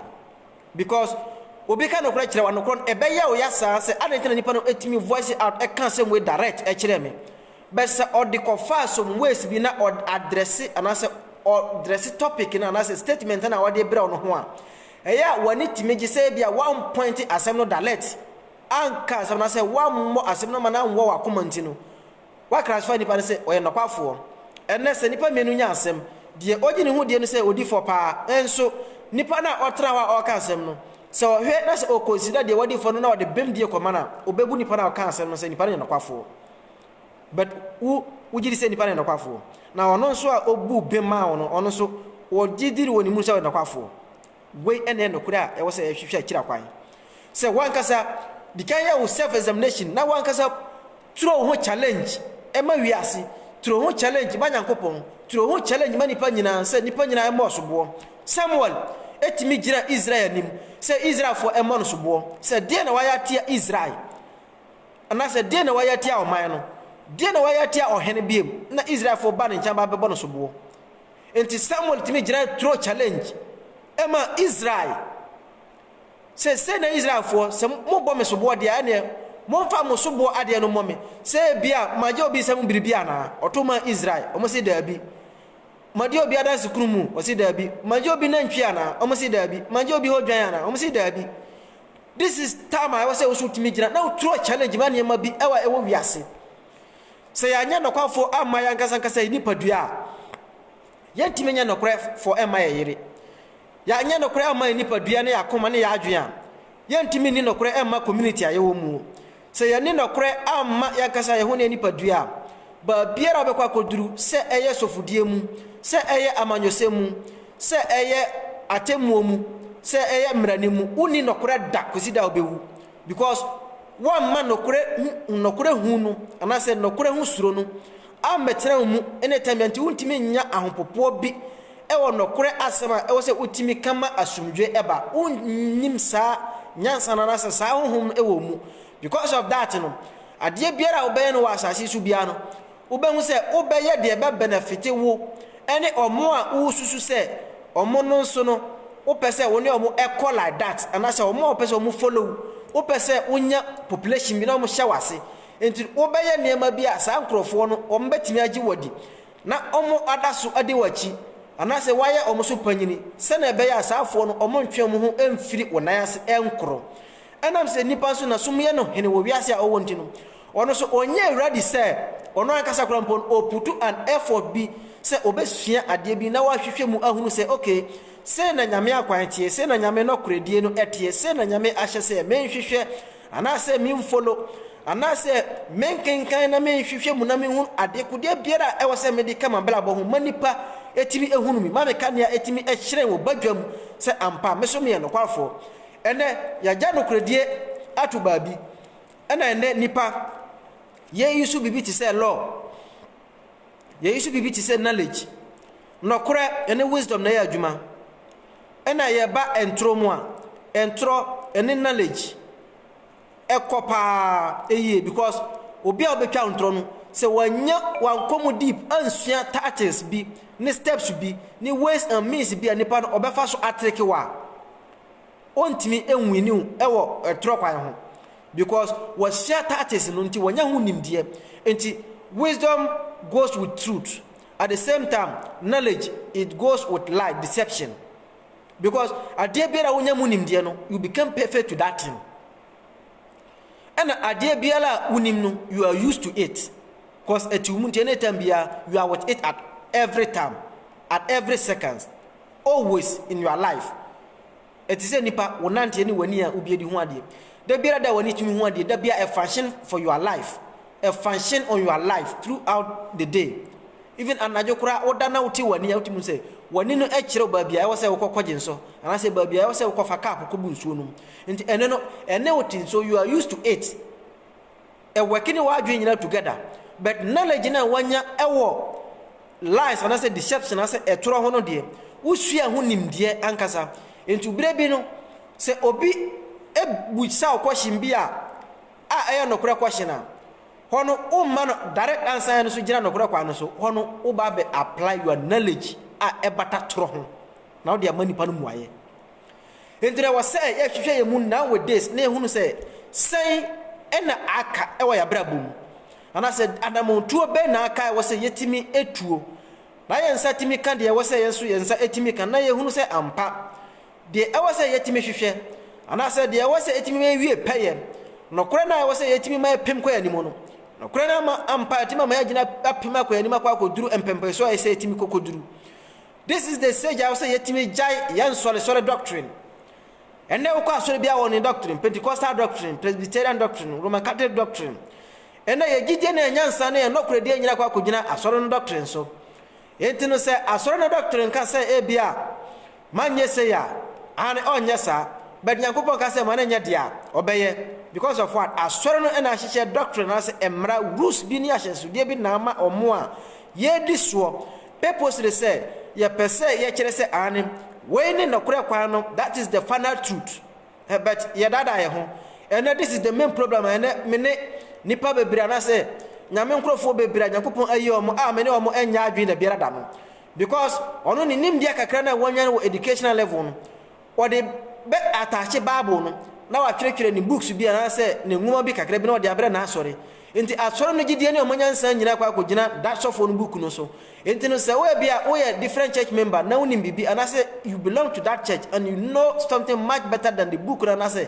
Speaker 1: because obi ka nokorɛ kyerɛ wo a nokorɛ no ɛbɛyɛ wo ya saa sɛ adɛn nti na nipa no ɛtumi voice out ɛka asɛm wei direct ɛkyerɛ me but sɛ ɔde kɔfaa some ways bi na ɔde adrɛse anaasɛ ɔdrɛse topic no anaasɛ statement na ɔde brɛ wo no ho a ɛyɛ a w'ani tumi gye sɛ ebi a one point asɛm no direct anka asɛm no sɛ wammɔ asɛm no ma no anwɔ w'akoma nti no Wɔakra so fa nnipa no sɛ wɔyɛ nnɔkwafoɔ. Ɛnnɛ, sɛ nnipa mmienu nya asɛm, deɛ ɔgye ne ho die no sɛ ɔdi fɔ pa ara. Nso, nipa no a ɔtena hɔ a ɔreka asɛm no, sɛ ɔhwɛ na sɛ ɔkɔnsida deɛ wadi fɔ no na ɔde bem die kɔma no a, ɔbɛbu nipa no a ɔkaa asɛm no sɛ nipa no yɛ nnɔkwafoɔ. But wo, wogye di sɛ nipa no yɛ nnɔkwafoɔ. Na ɔno nso a ɔbuu bem maa wo no, ɔno nso, wogye di wɔ ne mu sɛ ɔyɛ nnɔkwafoɔ. Wei na ɛyɛ nokorɛ a ɛwɔ sɛ yɛhwehwɛ akyire kwan. Sɛ w'ankasa di kan yɛ wo self examination na w'ankasa turo wo ho challenge ma wiase, turo wo ho challenge ma Nyankopɔn, turo wo ho challenge ma nnipa nyinaa sɛ nnipa nyinaa mmɔ ɔsoboɔ. Samuel tumi gyinaa Israel anim sɛ Israelfoɔ mmɔ no soboɔ sɛ deɛn na wayɛ atia Israel anaasɛ deɛn na wayɛ atia ɔman no, deɛn na wayɛ atia ɔhene biom na Israelfoɔ ba ne nkyɛn ba bɛbɔ no soboɔ. Enti Samuel tumi gyinae turo challenge maa Israel. Seesei na Israelfoɔ, sɛ mobɔ me soboɔ deɛ a, ɛnneɛ momfa mo soboɔ adeɛ no mmɔ me, sɛ ebia magye obi nsam biribi anaa? Ɔto maa Israel. Wɔse, Daabi. Madi obi adanse kunu mu? Ɔse, Daabi. Magye obi nantwie anaa? Wɔse, Daabi. Magye obi hɔ dwan anaa? Wɔse, Daabi. This is time a ɛwɔ sɛ wo nso wotumi gyina na woturo challenge ma nneɛma bi wɔ ɛwɔ wiase. Sɛ yɛanyɛ nokwafo amma yɛn ankasa ankasa yɛn nipadua a, yɛrentumi nyɛ nokorɛfo mma yɛn yere. Yɛanyɛ nokorɛ amma yɛn nipadua ne yɛn akoma ne yɛn adwene a, yɛrentumi nni nokorɛ mma community a yɛwɔ mu. Sɛ yɛanni nokorɛ amma yɛn ankasa yɛn ho ne yɛn nipadua a, baabiara a wobɛkɔ akɔduru, sɛ ɛyɛ sɔfodie mu, sɛ ɛyɛ amanyɔsɛm mu, sɛ ɛyɛ atemmuo mu, sɛ ɛyɛ mmarani mu, wonni nokorɛ da kɔsi da a wobɛwu. Because woamma nɔkorɛ hu nɔkorɛ hu no anaasɛ nɔkorɛ ho suro no ammɛtena wo mu ne tɛmɛ nti wontumi nnya ahopopoɔ bi wɔ nɔkorɛ asɛm a ɛwɔ sɛ wotumi ka ma asomdwoeɛ ba. Wonnim saa nyansa no anaasɛ saa honhom no wɔ wo mu. Because of that no, adeɛ biara a wobɛyɛ no wɔ asase yi so biara no, Wobɛhu sɛ wobɛyɛ deɛ ɛbɛbenɛfite wo ne wɔn a wosusu sɛ wɔn no nso no wopɛ sɛ wo ne wɔn kɔ like that anaasɛ wɔn a wopɛ sɛ wɔn follow wo. Wopɛ sɛ wonya population bi na wɔn hyɛ w'ase. Nti wobɛyɛ nneɛma bi a saa nkorɔfoɔ no wɔn bɛtumi agye wo adi na wɔn ada so adi wo akyi anaasɛ woayɛ wɔn so panyini sɛdeɛ ɛbɛyɛ a saa foɔ no wɔn ntwe wɔn ho mfiri wo nan ase nkorɔ. Ɛnam sɛ nnipa nso na sum yɛ no hene wɔ wiase a ɔwɔ nti no, ɔno nso ɔnyɛ awuradi sɛ ɔno ankasa koraa mpo no ɔputu an effort bi sɛ ɔbɛsua adeɛ bi na wahwehwɛ mu ahunu sɛ ok, sei na Nyame akwan teɛ, sei na Nyame nɔkorɛdie no teɛ, sei na Nyame ahyɛ sɛ menhwehwɛ anaasɛ menfolo anaasɛ menkenkan na menhwehwɛ mu na menhunu adekodeɛ biara a ɛwɔ sɛ mede ka mabrabɔ ho ma nnipa ɛtumi ɛhunu me, ma meka nea ɛtumi ɛhyerɛn wɔ badwam sɛ ampa me so meyɛ nokwafoɔ. Ɛnnɛ, yɛagya nokorɛdie ato baabi. Ɛna ɛnnɛ nnipa, yɛyi so biribi te sɛ law, yɛyi so biribi te sɛ knowledge. Nɔkorɛ ɛne wisdom na ɛyɛ adwuma. Ɛna yɛba ntorɔ mu a, ntorɔ ɛne knowledge ɛkɔ paa ɛyie because obi a ɔbɛtwa ntorɔ no, sɛ wanya wankɔ mu deep ansua tactics bi ne steps bi ne ways and means bi a nipa no ɔbɛfa so atreke wo a, ɔntumi nwini wo ɛwɔ ɛtorɔ kwan ho because wɔahyia tactics no nti wɔnya ho nimdeɛ nti wisdom goes with truth at the same time knowledge it goes with lie deception because adeɛ biara wonya mu nimdeɛ no you become perfect to that thing ɛna adeɛ biara a wonim no you are used to it because ɛtiw mu nti ɛna ɛtam biara you are with it at every time at every seconds Always in your life Ɛte sɛ nipa, wo nanteɛ ne w'ani a wobie de hu adeɛ. Da biara da a w'ani tumi hu adeɛ, da biara a function for your life. A function on your life throughout the day. Even anadwo koraa woda na wote w'ani a wotumi sɛ w'ani no kyerɛ baabi a ɛwɔ sɛ wokɔ kɔgye nso anaasɛ baabi a ɛwɔ sɛ wokɔfa cup kɔbu nsuo nom. Nti ɛno no ɛne wo te nso you are used to it. work ne w'adwene nyinaa together but knowledge no a wanya wɔ lies anaasɛ deception anaasɛ ɛtorɔ ho no deɛ wosua ho nimdeɛ ankasa nti berɛ bi no sɛ obi busa wo question bi a a ɛyɛ nokorɛ question a hɔ no womma no direct answer no so gyina nokorɛ kwan no so hɔ no woba bɛ apply your knowledge a ɛbata torɔ ho na wode ama nipa no mmuaeɛ Enti na ɛwɔ sɛ yɛhwehwɛ yɛn mu nowadays na yɛhunu sɛ, sɛn na aka wɔ yɛn abrabɔ mu? Anaasɛ anammɔntuo bɛn na aka a ɛwɔ sɛ yɛtumi tuo na yɛn nsa tumi ka deɛ ɛwɔ sɛ yɛn nso yɛn nsa tumi ka na yɛhunu sɛ ampa, deɛ ɛwɔ sɛ yɛtumi hwehwɛ anaasɛ deɛ ɛwɔ sɛ ɛtumi ma yɛwie pɛyɛ, nokorɛ no a ɛwɔ sɛ yɛtumi ma ɛpem kɔ yɛn anim no, nokorɛ no ama ampa ɛtumi ama yɛagyina apem akɔ yɛn anim akɔ akɔduru mpɛmpɛnsoɔ a ɛsɛ sɛ yɛtumi kɔ kɔduru. This is the stage a ɛwɔ sɛ yɛtumi gyae yɛn nsɔresɔre doctrine. Ɛnnɛ wokɔ asɔre biara wɔ ne doctrine, Pentecostal doctrine, Presbyterian doctrine, Roman Catholic doctrine. Ɛnnɛ yɛn gyidie ne yɛn nyansa ne yɛn nɔkorɛdie nyina kɔ akɔgyina asɔre no doctrine so. Enti no sɛ asɔre no doctrine ka sɛ ebia ma nyɛ sei a, aane ɔnyɛ saa, but Nyankopɔn ka sɛ ma no nyɛ deɛ a, ɔbɛyɛ. Because of what? Asɔre no na ahyehyɛ doctrine anaasɛ mmara, rules, bi ne ahyɛnsodeɛ bi na ama wɔn a yɛredi soɔ. Purposely sɛ yɛpɛ sɛ yɛkyerɛ sɛ aane, wei ne nɔkorɛ kwan no, that is the final truth, but yɛdaadaa yɛn ho. Ɛnɛ this is the main problem a ɛnɛ me ne nnipa bebree anaasɛ Nyame nkorɔfoɔ bebree a Nyankopɔn ayi wɔn a me ne wɔn nyɛ adwene dabiara da no, because ɔno ne nimdeɛ kakra no a wɔanya no wɔ educational level no, Wɔde bɛ attache Bible no na watwerɛtwerɛ ne books bi anaasɛ ne nwoma bi kakra bi na ɔde abrɛ n'asɔre. Enti asɔre no gyedie ne wɔn nyansa nyinaa kɔ akɔgyina da sɔfoɔ no book no so. Enti no sɛ wo ebia woyɛ different church member na wonim biribi anaasɛ you belong to that church and you know something much better than the book no anaasɛ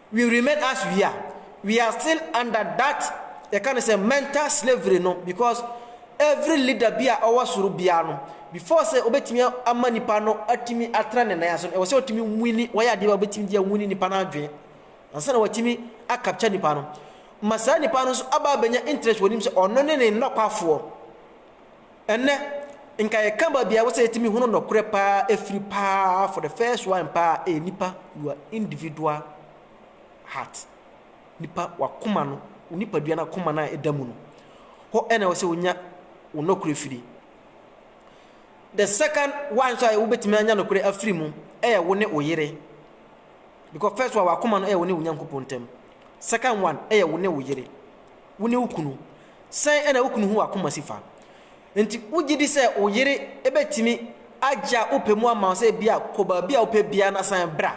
Speaker 1: We remain as we are, we are still under that yɛka no sɛ mental slavery no because every leader bi a ɔwɔ soro biara no before sɛ ɔbɛtumi ama nipa no atumi atena ne nan ase no ɛwɔ sɛ ɔtumi nwini wɔyɛ adeɛ bi a ɔbɛtumi de awini nipa no adwene ansa na watumi akapkya nipa no ma saa nipa no nso aba abɛnya interest wɔ nim sɛ ɔno ne ne nnɔkwafoɔ Ɛnnɛ, nka yɛka baabi a ɛwɔ sɛ yɛtumi hunu nɔkorɛ paa afiri paa for the first one paa ɛyɛ eh, nipa your individual heart nipa wakoma no wo nipadua no akoma no a ɛda mu no hɔ ɛna ɛwɔ sɛ wonya wo nɔkorɛ firi the second one nso a wobɛtumi anya nɔkorɛ afiri mu ɛyɛ wo ne wo yere because first one wakoma no ɛyɛ wo ne wo nyankopɔn ntam second one ɛyɛ wo ne wo yere Wo ne wo kunu, sɛn na wo kunu ho akoma si fa? Enti wogye di sɛ wo yere betumi agye a wopɛ mu ama wo sɛ ebia kɔ baabi a wopɛ biara na san bra?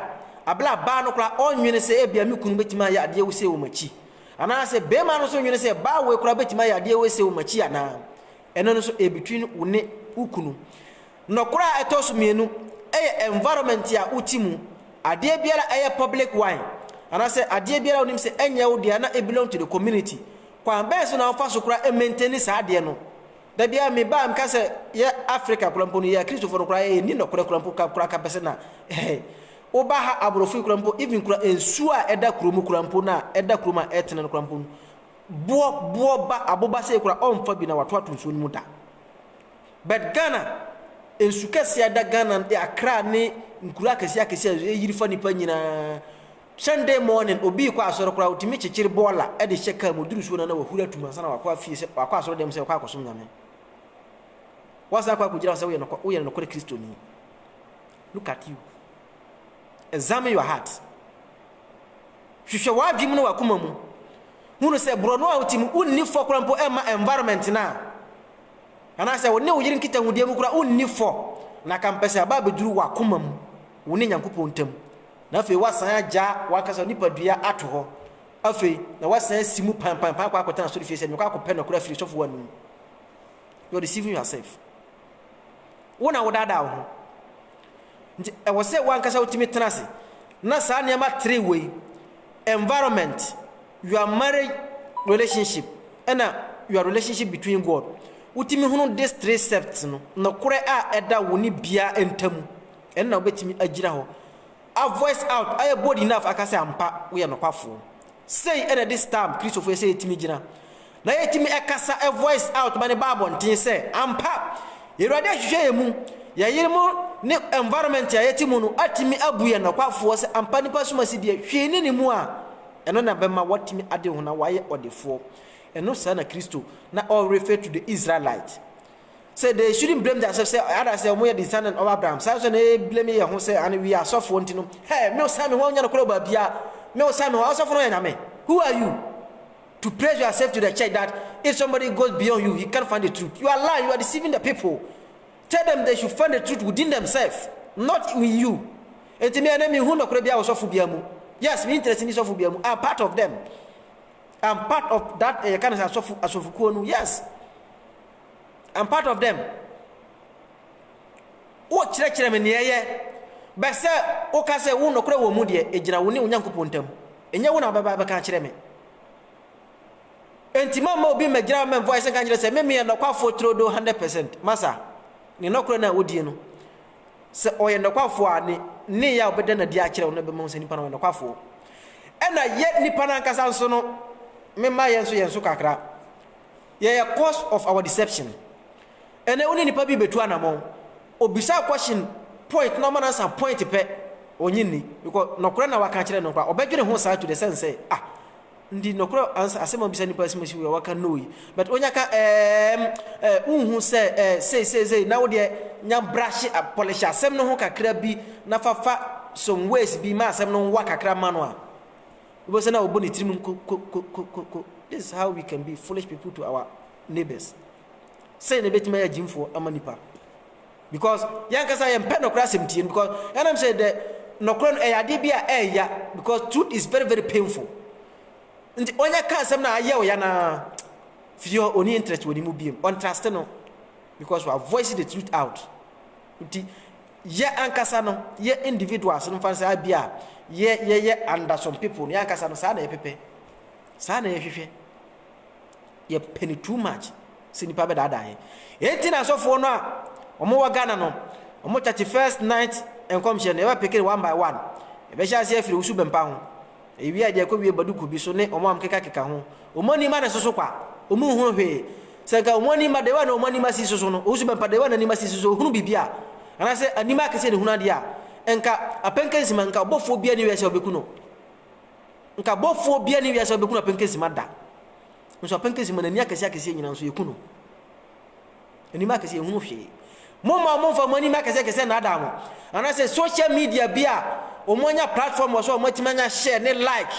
Speaker 1: Bere a baa no koraa ɔnnwene sɛ ebia me kunu betumi ayɛ adeɛ wesee wɔ m'akyi. Anaasɛ barima no nso nnwene sɛ baa wei koraa betumi ayɛ adeɛ wesee wɔ m'akyi anaa? Ɛno nso ɛrebetwin wo ne wo kunu. Nɔkorɛ a ɛtɔ so mmienu yɛ environment a wote mu. Adeɛ biara a ɛyɛ public one anaasɛ adeɛ biara a wonim sɛ ɛnyɛ wo dea na ɛbelong to the community, kwan bɛn so na wofa so koraa maintain saa adeɛ no? Da biara meba a meka sɛ yɛ Africa koraa mpo no, yɛ Akristofoɔ no koraa yɛ nni nɔkorɛ koraa mpo ka koraa ka pɛ sɛ na ɛhɛn. Woba ha aborɔfo yi koraa mpo even koraa nsuo a ɛda kuro mu koraa mpo no a ɛda kurom a ɛtene no koraa mpo no, boɔ boɔ ba aboba sei koraa ɔmfa bi na wato ato nsuo no mu da. But Ghana nsu kɛseɛ a ɛda Ghana no Accra ne nkuro akɛseɛ akɛseɛ a ɛyiri fa nipa nyinaa Sunday morning obi rekɔ asɔre koraa ɔtumi kyekyere bɔɔla de hyɛ kaa mu ɔduru suo na na wahuri atum ansa na wakɔ afie sɛ wakɔ asɔre dɛm sɛ ɔkɔ akɔsom nyame wasan akɔ akɔgyina hɔ sɛ woyɛ nokɔ woyɛ nokɔre kristoni look at you examine your heart hwehwɛ w'adwene mu ne w'akoma mu hunu sɛ borɔno a wote mu wonni fɔ koraa mpo ɛmma environment no a Anaasɛ wo ne wo yere nkitahodie mu koraa wonni fɔ, na ka mpɛ sɛ ɛba abɛduru w'akoma mu, wo ne Nyankopɔn ntam, na afei woasan agya w'ankasa wo nipadua ato hɔ, afei na woasan asi mu panpanpan akɔ akɔtena asɔrefie sɛ mekɔ akɔpɛ nɔkorɛ afiri sɔfo anom. You are deceiving yourself. Wo na wodaadaa wo ho. Nti ɛwɔ sɛ woankasa wotumi tena ase na saa nneɛma tere wei, environment, Your marriage relationship ɛna Your relationship between God, wotumi hunu this three septs no, nokorɛ a ɛda wo ne bia ntamu, ɛno na wobɛtumi agyina hɔ a voice out, ayɛ bold enough aka sɛ ampa woyɛ nokwafoɔ. Sei ɛna ɛde stamp Kristofoɔ yɛ sɛ yɛtumi gyina Na yɛtumi kasa voice out ma no ba abɔnten sɛ, Ampa, Awurade ahwehwɛ yɛn mu, yɛn yerenom ne environment a yɛte mu no atumi abu yɛn nɔkwafoɔ sɛ ampa nipa som ase deɛ hwee ne ne mu a, ɛno na bɛma watumi ade ho na wayɛ ɔdefoɔ. Ɛno saa na Kristo na ɔ refer to the Israelite sɛ they shouldn't blame themselves sɛ ada sɛ wɔn yɛ descendant of Abraham saa nso na yɛ blame yɛn ho sɛ and we are asɔfoɔ nti no hɛ me osan me ho ɔnyɛ no korɔ baabiara me osan me ho asɔfoɔ no yɛ nyame who are you To praise yourself to the church that if somebody goes beyond you, he can't find the truth. You are lying, you are deceiving the people. Tell them they should find the truth within themselves, not in you. And to me, I mean, who no could be our sofu biamu. Yes, me interested in sofu biamu. I'm part of them. I'm part of that uh, kind of sofu sofu kuonu. Yes, I'm part of them. Wo kyerɛkyerɛ me nea ɛyɛ bɛsɛ woka sɛ wo nɔkorɛ wɔ mu deɛ ɛgyina wo ne onyankopɔn ntam Ɛnyɛ wo na wobɛba abɛka akyerɛ me. Enti mamma obi mmɛgyina hɔ mmɛmfɔ ayɛsɛ nka nkyerɛ sɛ me meyɛ nɔkwafoɔ turodoo hundred percent. Masa, ne nɔkorɛ no a wodie no, sɛ ɔyɛ nɔkwafoɔ a, ne nneyɛɛ a ɔbɛda no adi akyerɛ wo no bɛma woahu sɛ nipa no ɔyɛ nɔkwafoɔ. Ɛna yɛ nipa no ankasa nso no, me mma yɛn nso yɛn so kakra. Yɛyɛ cause of our deception. Ɛnɛ wo ne nipa bi betu anamɔn, obisa question point na ɔma no answer point pɛ, ɔnye nni because nɔkorɛ na waka akyerɛ no koraa ɔbɛdwene ho saa to the sense sɛ ah nti nɔkorɛ answer asɛm a wobisa nipa asɛm asi wei a waka no yi but onya ka ɛɛm ɛɛ wonhu sɛ ɛɛ sei sei sei na wo deɛ nya brahye a polish asɛm no ho kakra bi na fa fa some ways bi ma asɛm no nwa kakra ma no a Wobɛhu sɛ na ɔbɔ ne tirim nkokokokoko, This is how we can be foolish people to our neighbors. Sɛn na ɛbɛtumi ayɛ agyimfoɔ ama nipa? Because yɛn ankasa yɛn mpɛ nɔkorɛ asɛm tie no because yɛnam sɛ dɛ nɔkorɛ no ɛyɛ adeɛ bi a ɛɛya because truth is very very painful. Nti ɔnyɛ ka asɛm na ayɛ ɔya na firi hɔ ɔni interest wɔ ne mu biem ɔntraste no because wa voice the truth out. Nti Yɛ ankasa no yɛ individuals no mfa saa bi a yɛ yɛyɛ under some people no yɛ ankasa no saa na yɛpɛpɛ saa na yɛhwehwɛ yɛ penny too much sɛ nipa bɛdaadaa yɛ enti na asɔfoɔ no a wɔn wɔ Ghana no wɔn thirty first night nkɔmhyɛ no yɛbɛ peke one by one yɛbɛhyɛ aseɛ afiri wusu bɛmpa ho Ewiai deɛ kɔ wie ba duku bi so ne ɔmo a ɔmo keka keka ho. Ɔmo ani mma ne soso kwa. Ɔmo nhunu hwee. Sɛ nka ɔmo ani mma dewaa na ɔmo anim asi soso no, ɔwusu bɛmpa dewaa na anim asi soso ɔhunu biribi a, anaasɛ anim ayɛ kɛseɛ na ɔhunu adeɛ a, nka Apɛnkɛnsima nka ɔbɔfoɔ biara nni wiase a ɔbɛku no. Nka bɔfoɔ biara nni wiase a ɔbɛku no Apɛnkɛnsima da. Nso Apɛnkɛnsima n'ani akɛseɛ akɛseɛ nyinaa nso yɛku no. Anim akɛseɛ nhunu hwee. Momma wɔmfa mo anim akɛseɛ kɛseɛ nnaadaa mo. Anaasɛ social media bi a wɔanya platform wɔ so a wɔatumi anya share ne like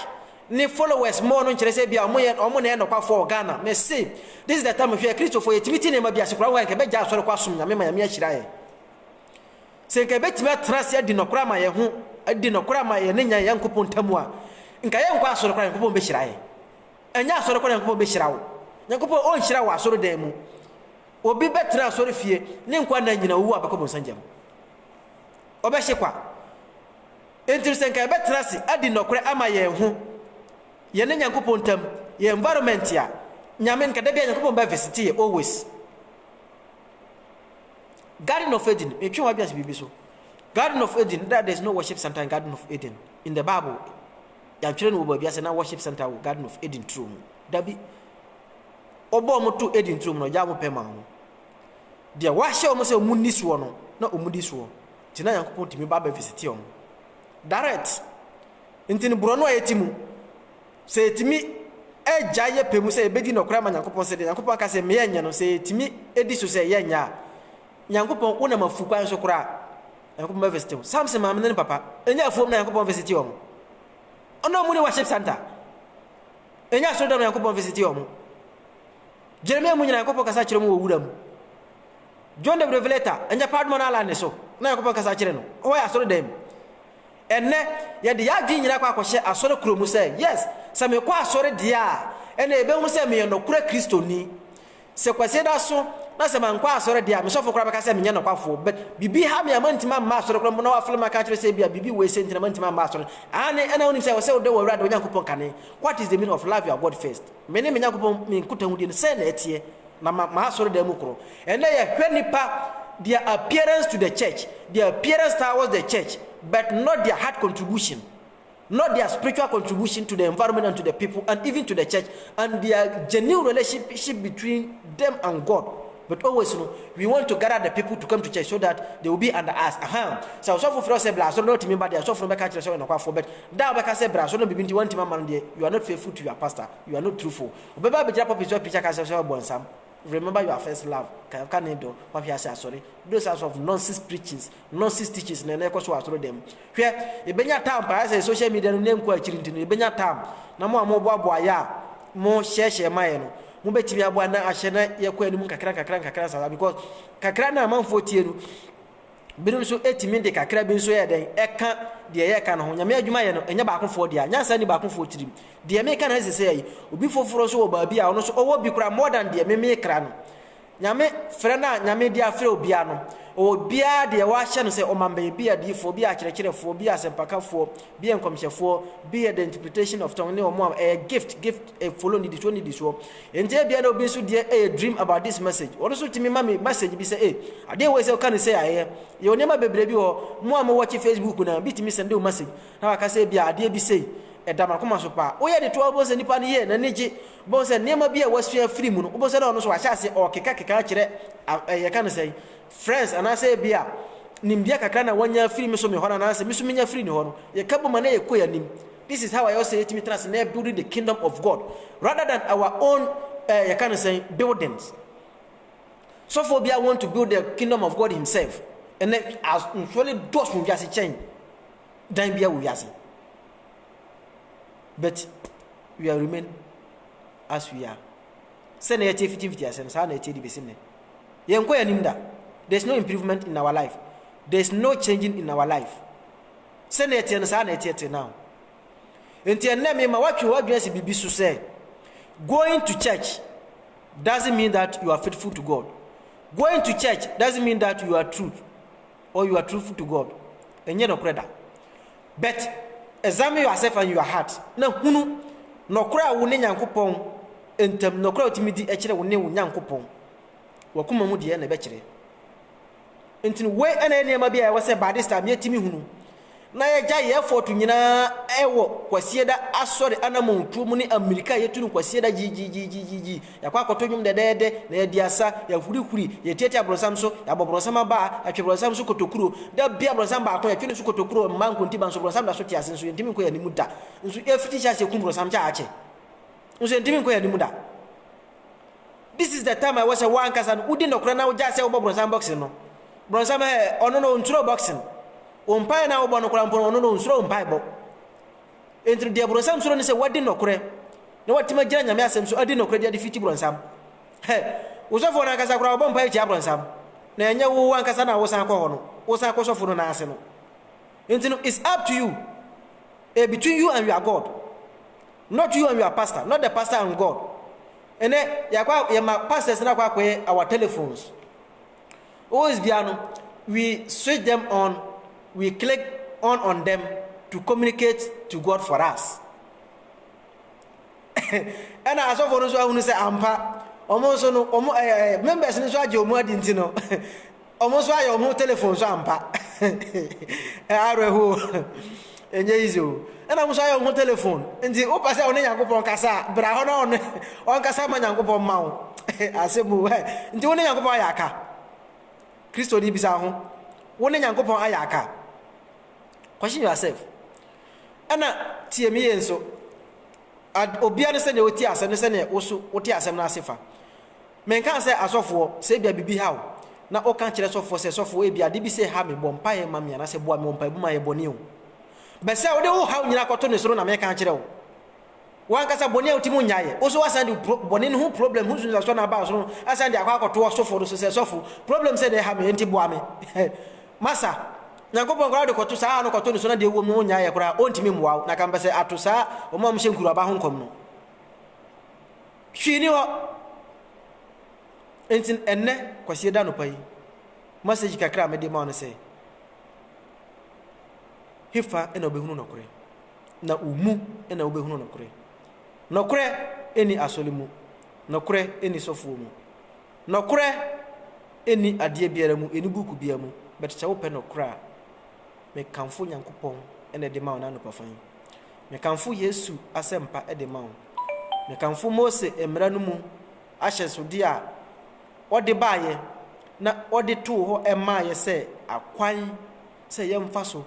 Speaker 1: ne followers more no nkyerɛ sɛ ebia wɔyɛ wɔn na ɛyɛ nɔkwafo wɔ Ghana. Mese this is the time hwɛ Kristofo yɛtumi te nneɛma bi ase koraa wɔ ha nka yɛbɛgyae asɔre kɔ asom Nyame ma Nyame ahyira yɛn. Sɛ nka yɛbɛtumi atena ase adi nɔkorɛ ama yɛn ho adi nɔkorɛ ama yɛn ne Nyankopɔn ntam a nka yɛnkɔ asɔre koraa Nyankopɔn bɛhyira yɛn. Ɛnyɛ asɔre kɔ na Nyankopɔn bɛhyira wo. Nyankopɔn ɔnhyira wɔ asɔre dan mu. Obi bɛtena asɔre fie ne nkwa nna nyina ɔwu a ɔbɛkɔ bɔnsa gya mu. Ɔbɛhye kwa. Enti sɛ nka yɛbɛtena ase adi nɔkorɛ ama yɛn ho, yɛne Nyankopɔn ntam, yɛn environment a, Nyame nka da bia Nyankopɔn bɛ visite yɛ always. Garden of Eden, metwe w'adwene ase biribi so. Garden of Eden, that there is no worship center in Garden of Eden in the Bible. Yɛatwerɛ no wɔ baabi a sɛ na worship center wɔ Garden of Eden turo mu. Dabi. Wɔbɔɔ wɔn to Eden turo mu na wɔgyaa wɔn pɛ maa wɔn. Deɛ wɔahyɛ wɔn sɛ wɔnni soɔ no, na wɔdi soɔ. Nti na Nyankopɔn tumi ba bɛvisiti wɔn. Direct. Nti no borɔno a yɛte mu, sɛ yɛtumi agya yɛ pɛ mu sɛ yɛbɛdi nɔkorɛ ama Nyankopɔn sɛ deɛ Nyankopɔn aka sɛ meyɛ nyɛ no, sɛ yɛtumi di so sɛ yɛnyɛ a, Nyankopɔn wonam afu kwan so koraa. Nyankopɔn bɛ visite wo. Samson maame ne ne papa ɛnyɛ afuom na Nyankopɔn visite wɔn. Ɔno ɔmo ne worship center. Ɛnyɛ asɔre dɔm Nyankopɔn visite wɔn. Jeremia mu nyina Nyankopɔn kasa kyerɛ mu wɔ wura mu. John the Revelator ɛnyɛ paadoma no ala ne so na Nyankopɔn kasa kyerɛ no. Ɔhɔ yɛ asɔre dan mu. Ɛnɛ yɛde yɛ adwene nyina kɔ akɔhyɛ asɔre kuro mu sɛ yes sɛ mekɔ asɔre deɛ a ɛna ɛbɛhunu sɛ meyɛ nɔkorɛ Kristoni. Sɛ Kwasi da so na sɛ mankɔ asɔre deɛ a, me sɔfo koraa bɛka sɛ menyɛ nokwafoɔ. But biribi ha me a mantumi amma asɔre koraa mpo na wafrɛ me aka akyerɛ sɛ ebia biribi wɔ ese nti na mantumi amma asɔre. Aane, ɛna wonim sɛ ɛwɔ sɛ wodɔ w'Awurade wo Nyankopɔn kane. What is the meaning of love your God first? Me ne me Nyankopɔn me nkotahodie no sɛn na ɛteɛ? Na ma m'asɔredan mu korɔ. Ɛnnɛ yɛhwɛ nnipa, their appearance to the church, their appearance towards the church, but not their heart contribution. not their spiritual contribution to the environment and to the people and even to the church and their genuine relationship between them and God but always no we want to gather the people to come to church so that they will be under us aha sɛ ɔsɔfo frɛ sɛ bra asɔre na ɔtumi ba deɛ ɔsɔfo no bɛka kyerɛ sɛ ɔyɛ nɔkwafo but da ɔbɛka sɛ bra asɔre na bibi nti wɔntumi ama no deɛ you are not faithful to your pastor you are not truthful ɔbɛba abɛgyina pɔpi so apirikyi aka sɛ sɛ ɔbɔ nsam Remember your first love, kan ka ne dɔ, wahwe ase asɔre, those types of nonsense preachings, nonsense teachings na na ɛkɔ so wɔ asɔre dan mu. Hwɛ, yɛbɛnya time paa, ayɛ sɛ social media no nna nkɔ akyiri nti no, yɛbɛnya time, na mo a moboaboa yɛ a mo hyɛɛhyɛɛ ma yɛ no, mobɛtumi aboa na ahyɛ na yɛkɔ anim nkakra nkakra nkakra saa saa, because kakra no a amanfoɔ tie no, Binom nso tumi de kakra bi nso yɛ dɛn? Ɛka deɛ yɛka no ho. Nyame adwuma yɛ no, ɛnyɛ baakofoɔ dea. Nyansa nni baakofoɔ tirim. Deɛ meka no sesɛɛ yi, obi foforɔ nso wɔ baabi a ɔno nso ɔwɔ bi koraa more than deɛ me mekra no. Nyame frɛ no a Nyame de afrɛ obiara no, ɔwɔ biara deɛ wahyɛ no sɛ ɔma mbɛyɛ, bi yɛ adiyifoɔ, bi yɛ akyerɛkyerɛfoɔ, bi yɛ asɛmpakafoɔ, bi yɛ nkɔmhyɛfoɔ, bi yɛ the interpretation of tongue ne wɔn a ɛyɛ gift, gift, follow nnidisoɔ nnidisoɔ. Enti ebia na obi nso deɛ ɛyɛ dream about this message, wɔn nso tumi ma me message bi sɛ eh adeɛ wei sɛ ɔka no sei a ɛyɛ, yɛwɔ nneɛma bebree bi wɔ hɔ, mo a mo watch Facebook no bi tumi sɛnde wo message na waka sɛ ebia adeɛ bi sei ɛda m'akoma so paa, woyɛ de to a wobɛhu sɛ nipa no yɛ n'ani gye, wobɛhu sɛ nneɛma bi a wasua afiri mu no wobɛhu sɛ na ɔno nso wahyɛ aseɛ ɔrekeka keka akyerɛ eh yɛka no sɛn friends anaasɛ ebia nimdeɛ kakra na wanya afiri me so me hɔ no anaasɛ me so menya afiri ne hɔ no, yɛka bom a na yɛkɔ yɛn anim. This is how a yɛwɔ sɛ yɛtumi tena ase na yɛ building the kingdom of God rather than our own eh, yɛka no sɛn buildings. Sɔfoɔ biara want to build the kingdom of God himself. Ɛnɛ nsuo ne dɔɔso wiase kyɛn dan biara wɔ wiase. But we are remain as we are. Sɛ na yɛte fitifiti ase no saa na yɛte de besi nnɛ. Yɛnkɔ yɛn anim da. There is no improvement in our life. There is no changing in our life. Sɛnea ɛteɛ no, saa na ɛteɛ till now. Enti ɛnnɛ mema woatwe w'adwene asi biribi so sɛ, going to church doesn't mean that you are faithful to God. Going to church doesn't mean that you are true or you are truthful to God. Ɛnyɛ nɔkorɛ da. But examine yourself and your heart na hunu nɔkorɛ a wo ne Nyankopɔn ntam, nɔkorɛ a wotumi di kyerɛ wo ne wo Nyankopɔn. W'akoma mu deɛ na ɛbɛkyerɛ. Nti no, wei na ɛyɛ nneɛma bi a ɛwɔ sɛ Baptist a mietumi hunu na yɛgya yɛ ɛfɔɔto nyinaa wɔ Kwasieda Asɔre anamɔntuo mu ne amirika a yɛtu no Kwasieda gyigyiigyiigyiigyii, yɛakɔ akɔto nnwom dɛdɛɛdɛ na yɛadi asa, yɛahurihuri, yɛtiatia bronsam so, yɛabɔ bronsam abaa, yɛatwe bronsam so kotokuro. Da biara bronsam baako, yɛtwe no so kotokuro, mmaa nkontiba nso, bronsam da so te ase nso, yɛntumi nkɔ yɛn anim da. Nso yɛfiti hyɛ aseɛ kum bronsam kyɛ a akyɛ. Nso entumi nkɔ yɛn anim da. This is the time a ɛwɔ sɛ wo ankasa no wodi nɔkorɛ na wogyae sɛ wobɔ brɔnsam boxing no. Brɔnsam ɛ, ɔno no ɔnsuroo boxing. Wo mpaeɛ no a wobɔ no koraa mpo no, ɔno no ɔnsuroo wo mpaebɔ. Enti no deɛ brɔnsam suro ne sɛ woadi nɔkorɛ na woatumi agyina Nyame asɛm so adi nɔkorɛ de adefiti brɔnsam. Hɛ, wo sɔfoɔ no ankasa koraa ɔbɔ mpaeɛ tia brɔnsam. Na ɛnyɛ wo wo ankasa na wosan kɔ hɔ no, wosan kɔ sɔfo no nan ase no. Enti no it's up to you. Ɛ between you and your God. Not you and your pastor not the pastor and God ɛnɛ yɛakɔ yɛma pastors no akɔ akɔyɛ our telephones always bia no we switch them on we click on on them to communicate to God for us ɛna asɔfo no nso ahunu sɛ ampa wɔn nso no wɔn ɛɛ members no nso agye wɔn adi nti no Ɔmo nso ayɛ ɔmo telephone so ampa awerɛho ɛnyɛ easy o ɛna ɔmo nso ayɛ ɔmo telephone nti wopɛ sɛ ɔne nyankopɔn kasa a bra hɔ na ɔne ɔnkasa ma nyankopɔn mma wo asɛm o nti wo ne nyankopɔn ayɛ aka kristo de bisa ho wo ne nyankopɔn ayɛ aka question yourself ɛna tie me yie nso obia ne sɛdeɛ wotie asɛm ne sɛdeɛ woso wote asɛm no ase fa Menkaa sɛ asɔfoɔ, sɛ ebia biribi ha wo, na woka kyerɛ sɔfoɔ sɛ, Sɔfoɔ, ebia ade bi sei ha me, bɔ mpaeɛ ma me, anaasɛ boa me wɔ mpaeɛbɔ mu mayɛ bɔne o. But sɛ wode wo haw nyinaa kɔto ne soro na meka akyerɛ wo, w'ankasa bɔne a wotumi nnyaeɛ, wo nso woasan de pro, bɔne no ho problem ho nsunsuansoɔ no aba wo soro no asan de akɔ akɔto ɔsɔfoɔ no so sɛ, Sɔfo, problem sei na ɛha me, enti boa me. Masa, Nyankopɔn koraa wode kɔto saa haw no kɔto ne so na deɛ ɛwom no wonnyaeɛ koraa a, ɔntumi mmoa wo, na ka mepɛ sɛ ato saa wɔn a wɔhyɛ nkuruaba ho nkɔm no. Hwee nni hɔ. Enti ɛnnɛ, Kwasiada anɔpa yi, masɛgyi kakra a mede ma wo ne sɛ, Hefa na wobɛhunu nɔkorɛ? Na wo mu na wobɛhunu nɔkorɛ. Nɔkorɛ nni asɔre mu, nɔkorɛ nni sɔfoɔ mu, nɔkorɛ nni adeɛ biara mu, ɛnni buuku biara mu, but sɛ wopɛ nɔkorɛ a, mekamfo Nyankopɔn na ɛde ma wo nnɛ anɔpafa yi. Mekamfo Yesu asɛmpa de ma wo. Mekamfo Mose mmara no mu ahyɛsode a ɔde baeɛ na ɔde too hɔ maaeɛ sɛ akwan sɛ yɛmfa so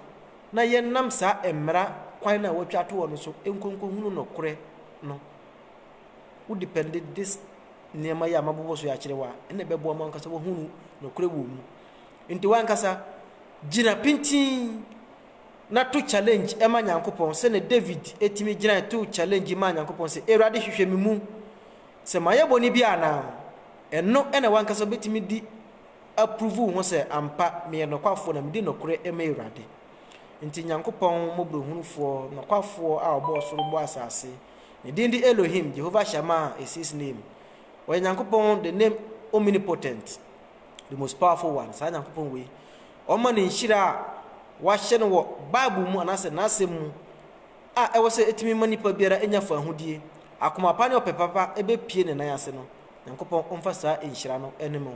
Speaker 1: na yɛnam saa mmara kwan no a wɔatwa ato hɔ no so nkonkɔhunu nɔkorɛ no. Wo depɛnde this nneɛma yi a mabobɔ so yi akyerɛ wo a, ɛna ɛbɛboa mo ankasa wahunu nɔkorɛ wɔ mu. Nti wankasa gyina pintinn. na to challenge ma Nyankopɔn sɛnea David tumi gyinae too challenge maa Nyankopɔn sɛ, Awurade hwehwɛ me mu, sɛ mayɛ bɔne bi anaa. Ɛno na w'ankasa wobɛtumi de aprovu wo ho sɛ ampa meyɛ nɔkwafoɔ na medi nɔkorɛ ma Awurade. Nti Nyankopɔn mmɔborɔhunufoɔ, nɔkwafoɔ a ɔbɔɔ soro bɔɔ asase, ne din de Elohim, Jehovah Shammah is his name. Ɔyɛ Nyankopɔn the name omnipotent, the most powerful one, saa Nyankopɔn wei. Ɔma no nhyira a wɔahyɛ no wɔ Bible mu anaasɛ N'asɛm mu a ɛwɔ sɛ etumi ma nipa biara nya fahodie, akoma pa ne ɔpɛ papa bɛpue ne nan ase no. Nyankopɔn mfa saa nhyira no nnim wo.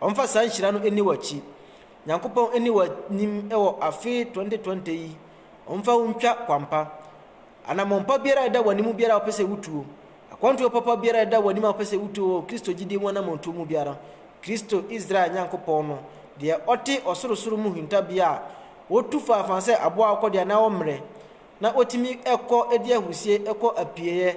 Speaker 1: Ɔmfa saa nhyira no nni w'akyi. Nyankopɔn nni w'anim wɔ afe 2020 yi. Ɔmfa wo ntwa kwampa. Anammɔn pa biara a ɛda w'anim biara a wopɛ sɛ wotuo, Akwantuo papa biara a ɛda w'anim a wopɛ sɛ wotu wɔ Kristo gyidie mu anammɔntuo mu biara, Kristo, Israel Nyankopɔn no, deɛ ɔte ɔsorosoro mu hintabea a wɔtu faafaa sɛ aboa akɔdeɛ anaa ɔmmerɛ, na ɔtumi kɔ de ahurisie kɔ apieeɛ,